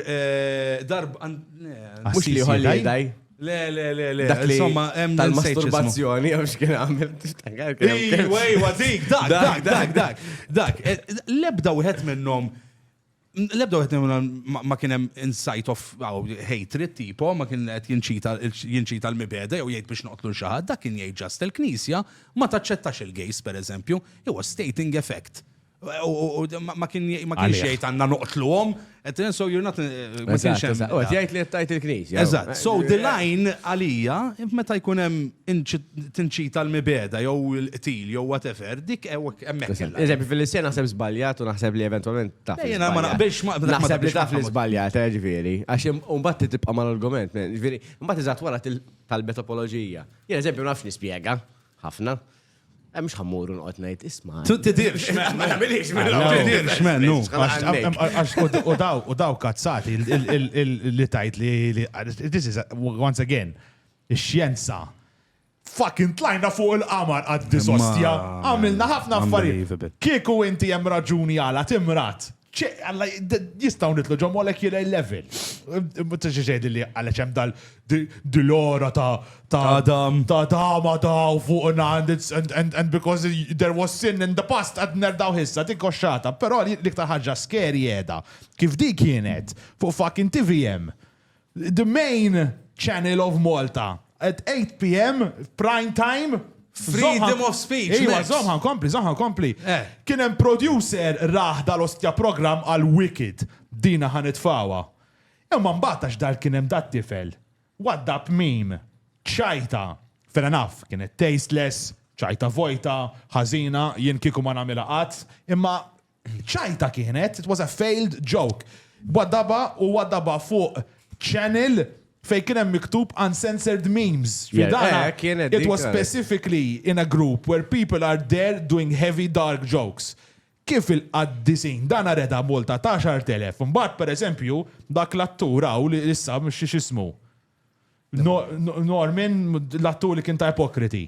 darb mhux li jidaj. Le, le, le, le. Dak li insomma hemm tal-masturbazzjoni jew x'kien għamel tixtangar. Ejwa, ejwa, dik, dak, dak, dak, dak, dak. Eh, lebda wieħed minnhom Lebda għet ma kienem insight of hatred tipo, ma kien għet jinċita l-mibeda, jew jgħid biex noqtlu xaħad, dak kien jgħid ġast il-knisja, ma taċċettax il-gejs, per eżempju, jew stating effect. U ma kienx jgħid għandna noqtluhom, qed so you're not eh, ma kienx hemm. U jgħid li qed tajt il-Knisja. Eżatt. So the line għalija meta jkun hemm tinċita l-mibeda jew il-qtil jew whatever, dik hemmhekk. Eżempju fil-Lissija naħseb żbaljat u naħseb li eventwalment taf. Jiena ma naqbilx ma naħseb li taf li żbaljat, eh, ġifieri. Għax imbagħad tibqa' mal-argument, ġifieri, imbagħad iżgħat wara tal-betopoloġija. Jien eżempju nafx nispjega ħafna. Mux ħammur unqot najt isma. Tu tidirx, ma nabilix, ma nabilix. Mennu, u daw, u daw kazzati li tajt li, this is, once again, xjenza. Fucking tlajna fuq il-qamar għad disostja. Għamilna ħafna affarijiet. Kieku inti hemm raġuni għala timrat. ċe, għalla, jistaw nitlu ġo molecular level. Mutax ġeġed li għalla ċem dal dil-ora ta' ta' Adam. Ta' Adam, Adam, fuqna, and because there was sin in the past, għad nerdaw hissa, dik koxxata. Pero li ktar ħagġa skeri jeda, kif di kienet, fuq fucking TVM, The main channel of Malta at 8 pm prime time. Freedom of speech. Iwa, zomħa nkompli, zomħa nkompli. Eh. Kien hemm producer raħ dal-ostja program għal Wicked. Dina ħan itfawa. Imma mbagħad għax dal kien hemm dat tifel. Wadda mim. Ċajta. Fena naf, kienet tasteless, ċajta vojta, ħażina, jien kieku ma nagħmilha qatt, imma ċajta kienet, it was a failed joke. Waddaba u waddaba fuq channel fej kien hemm miktub uncensored memes. Yeah, Fidana, eh, kienet it dik, was eh. specifically in a group where people are there doing heavy dark jokes. Kif il-qaddisin, dan reda multa ta' 10,000. Mbagħad per eżempju, dak l-attur hawn li issa mhux xi xismu. No- no- Norman, l-attur li kien ta' ipokriti.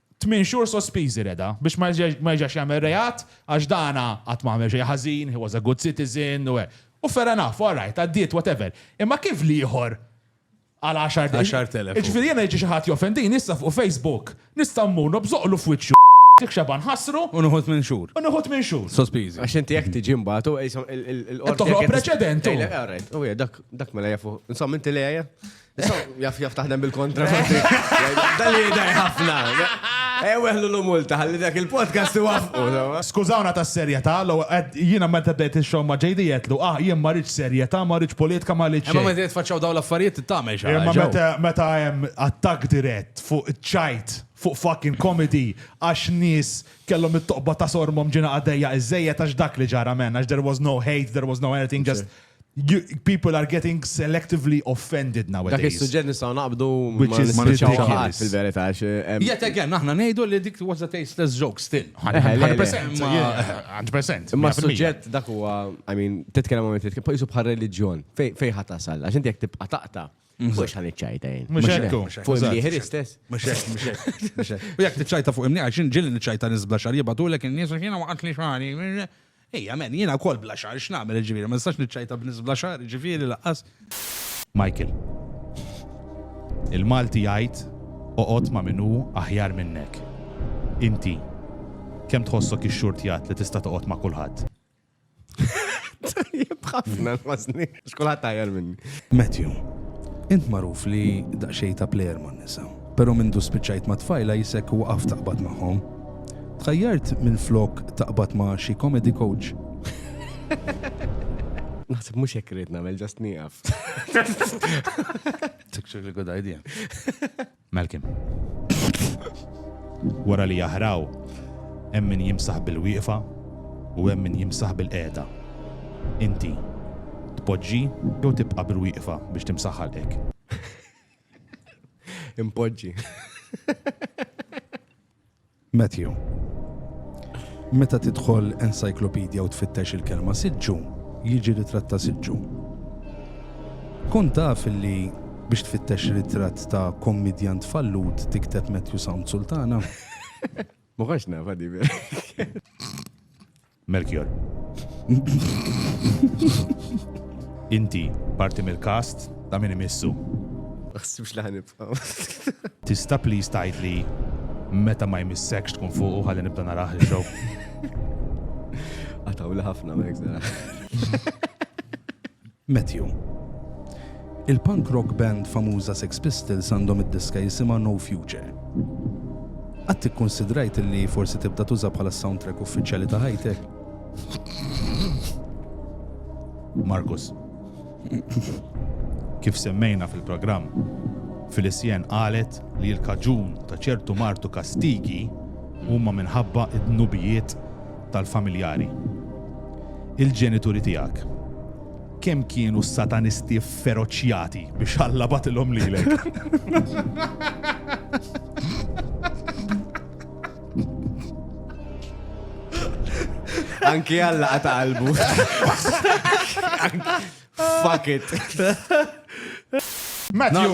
Tmien xhur sospiżi Reda, biex ma jerġax jagħmel reat, għax dana qatt ma għamel xejn ħażin, he was a good citizen, u hekk. U fair enough, all right, għaddiet, whatever. Imma kif l-ieħor għal għaxart. Għaxart elef. Jiġifieri jiena jiġi xi ħadd jofendini issa fuq Facebook, nista' mmur nobżoqlu f'wiċċu dik xeba nħassru. U nieħu tmien xhur. U nieħu tmien xhur. Sospiżi. Għax inti jekk tiġi mbagħad u qishom il-qorti. Toħloq preċedent. All right. U hija dak dak mela jafu. Insomma inti lejja. Jaf jaf taħdem bil-kontra. Dalli daj ħafna. Eweħlu eh, l-multa, għalli dak il-podcast wafqu. Skużawna ta' serjeta, jina ma t-bdejt il-xom ma ġejdi jetlu, ah, jien ma rridx serjeta, ma rridx politika, ma rridx. Ma t faċċaw daw l-affarijiet t-tamel xaħġa. Ma meta meta jem attak dirett fuq ċajt, fuq fucking comedy, għax nis kellhom it-toqba ta' sormom ġina għaddejja iż-żejja għax dak li ġara men, għax there was no hate, there was no anything, just People are getting selectively offended nowadays. Dak is-suġġett nistgħu naqbdu ma nispiċċaw fil-verità. Yet again, aħna ngħidu li dik was a tasteless joke still. 100%. Imma s-suġġett dak huwa, I mean, titkellem ma titkellem, pajjiżu bħal reliġjon. Fejn ħadd tasal? Għax inti jekk tibqa' taqta' mhm. Mux għan iċċajta jien. Mux għekku. Fuq imnieħer istess. Mux għekku, mux għekku. U jek tiċċajta fuq imnieħer, xin ġilli niċċajta nizbla xar jibatulek il-nis, xina waqt li xari. Ej, amen, jiena wkoll bla xagħar x'nagħmel jiġifieri, ma nistax niċċajta b'nies bla xagħar jiġifieri laqqas. Michael. Il-Malti jgħid oqgħod ma' min hu aħjar minnek. Inti kemm tħossok ix-xurtjat li tista' toqgħod ma' kulħadd? Tajjeb ħafna. Għax kulħadd aħjar minni. Matthew, Int magħruf li daqsxejn ta' plejer man-nisa, però mindu spiċċajt mat-tfajla jisek waqaft taqbad magħhom. Tħajjart minflok taqbad ma' xi comedy coach? Naħseb mhux hekk irrid nagħmel, just nieqaf. It's actually a good idea. Malcolm. Wara li jaħraw, hemm min jimsaħ bil-wieqfa u hemm min jimsaħ bil-qiegħda. Inti, tpoġġi jew tibqa' bil-wieqfa biex timsaħ ħalqek? Impoġġi. Matthew. Meta tidħol encyclopedia u tfittex il-kelma siġġu, jiġi ritratt ta' siġġu. Kun taf li biex tfittex ritratt ta' kommedjant fallut tikteb Matthew Sound Sultana? Muħax nafa di Melchior. Inti parti mill-cast ta' min imissu. Ma ħsibx li ħanibqa'. Tista' please tgħidli meta ma jmissekx tkun fuqu ħalli nibda naraħ il-show? Għatawli ħafna ma jekk Matthew. Il-punk rock band famuża Sex Pistols għandhom id-diska jisimha No Future. Qatt ikkunsidrajt li forsi tibda tuża bħala s-soundtrack uffiċjali ta' ħajtek? Markus. Kif semmejna fil-programm, Filicienne qalet li l-kaġun ta' ċertu mard u kastigi huma minħabba d-dnubijiet tal-familjari. Il-ġenituri tiegħek kemm kienu satanisti feroċjati biex Alla batilhom lilek? Anki Alla qata' qalbu. Fuck it. Matthew,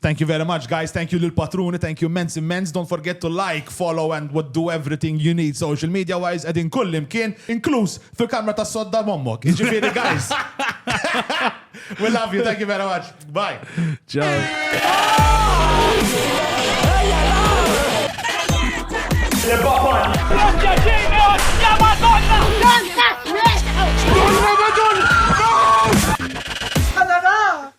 Thank you very much guys, thank you lil patruni, thank you immense immense, don't forget to like, follow and what do everything you need social media wise qegħdin kullimkien, inkluż fil-kamra tas-sodda m'ommok. Jiġifieri guys. We love you, thank you very much. Bye. Ciao.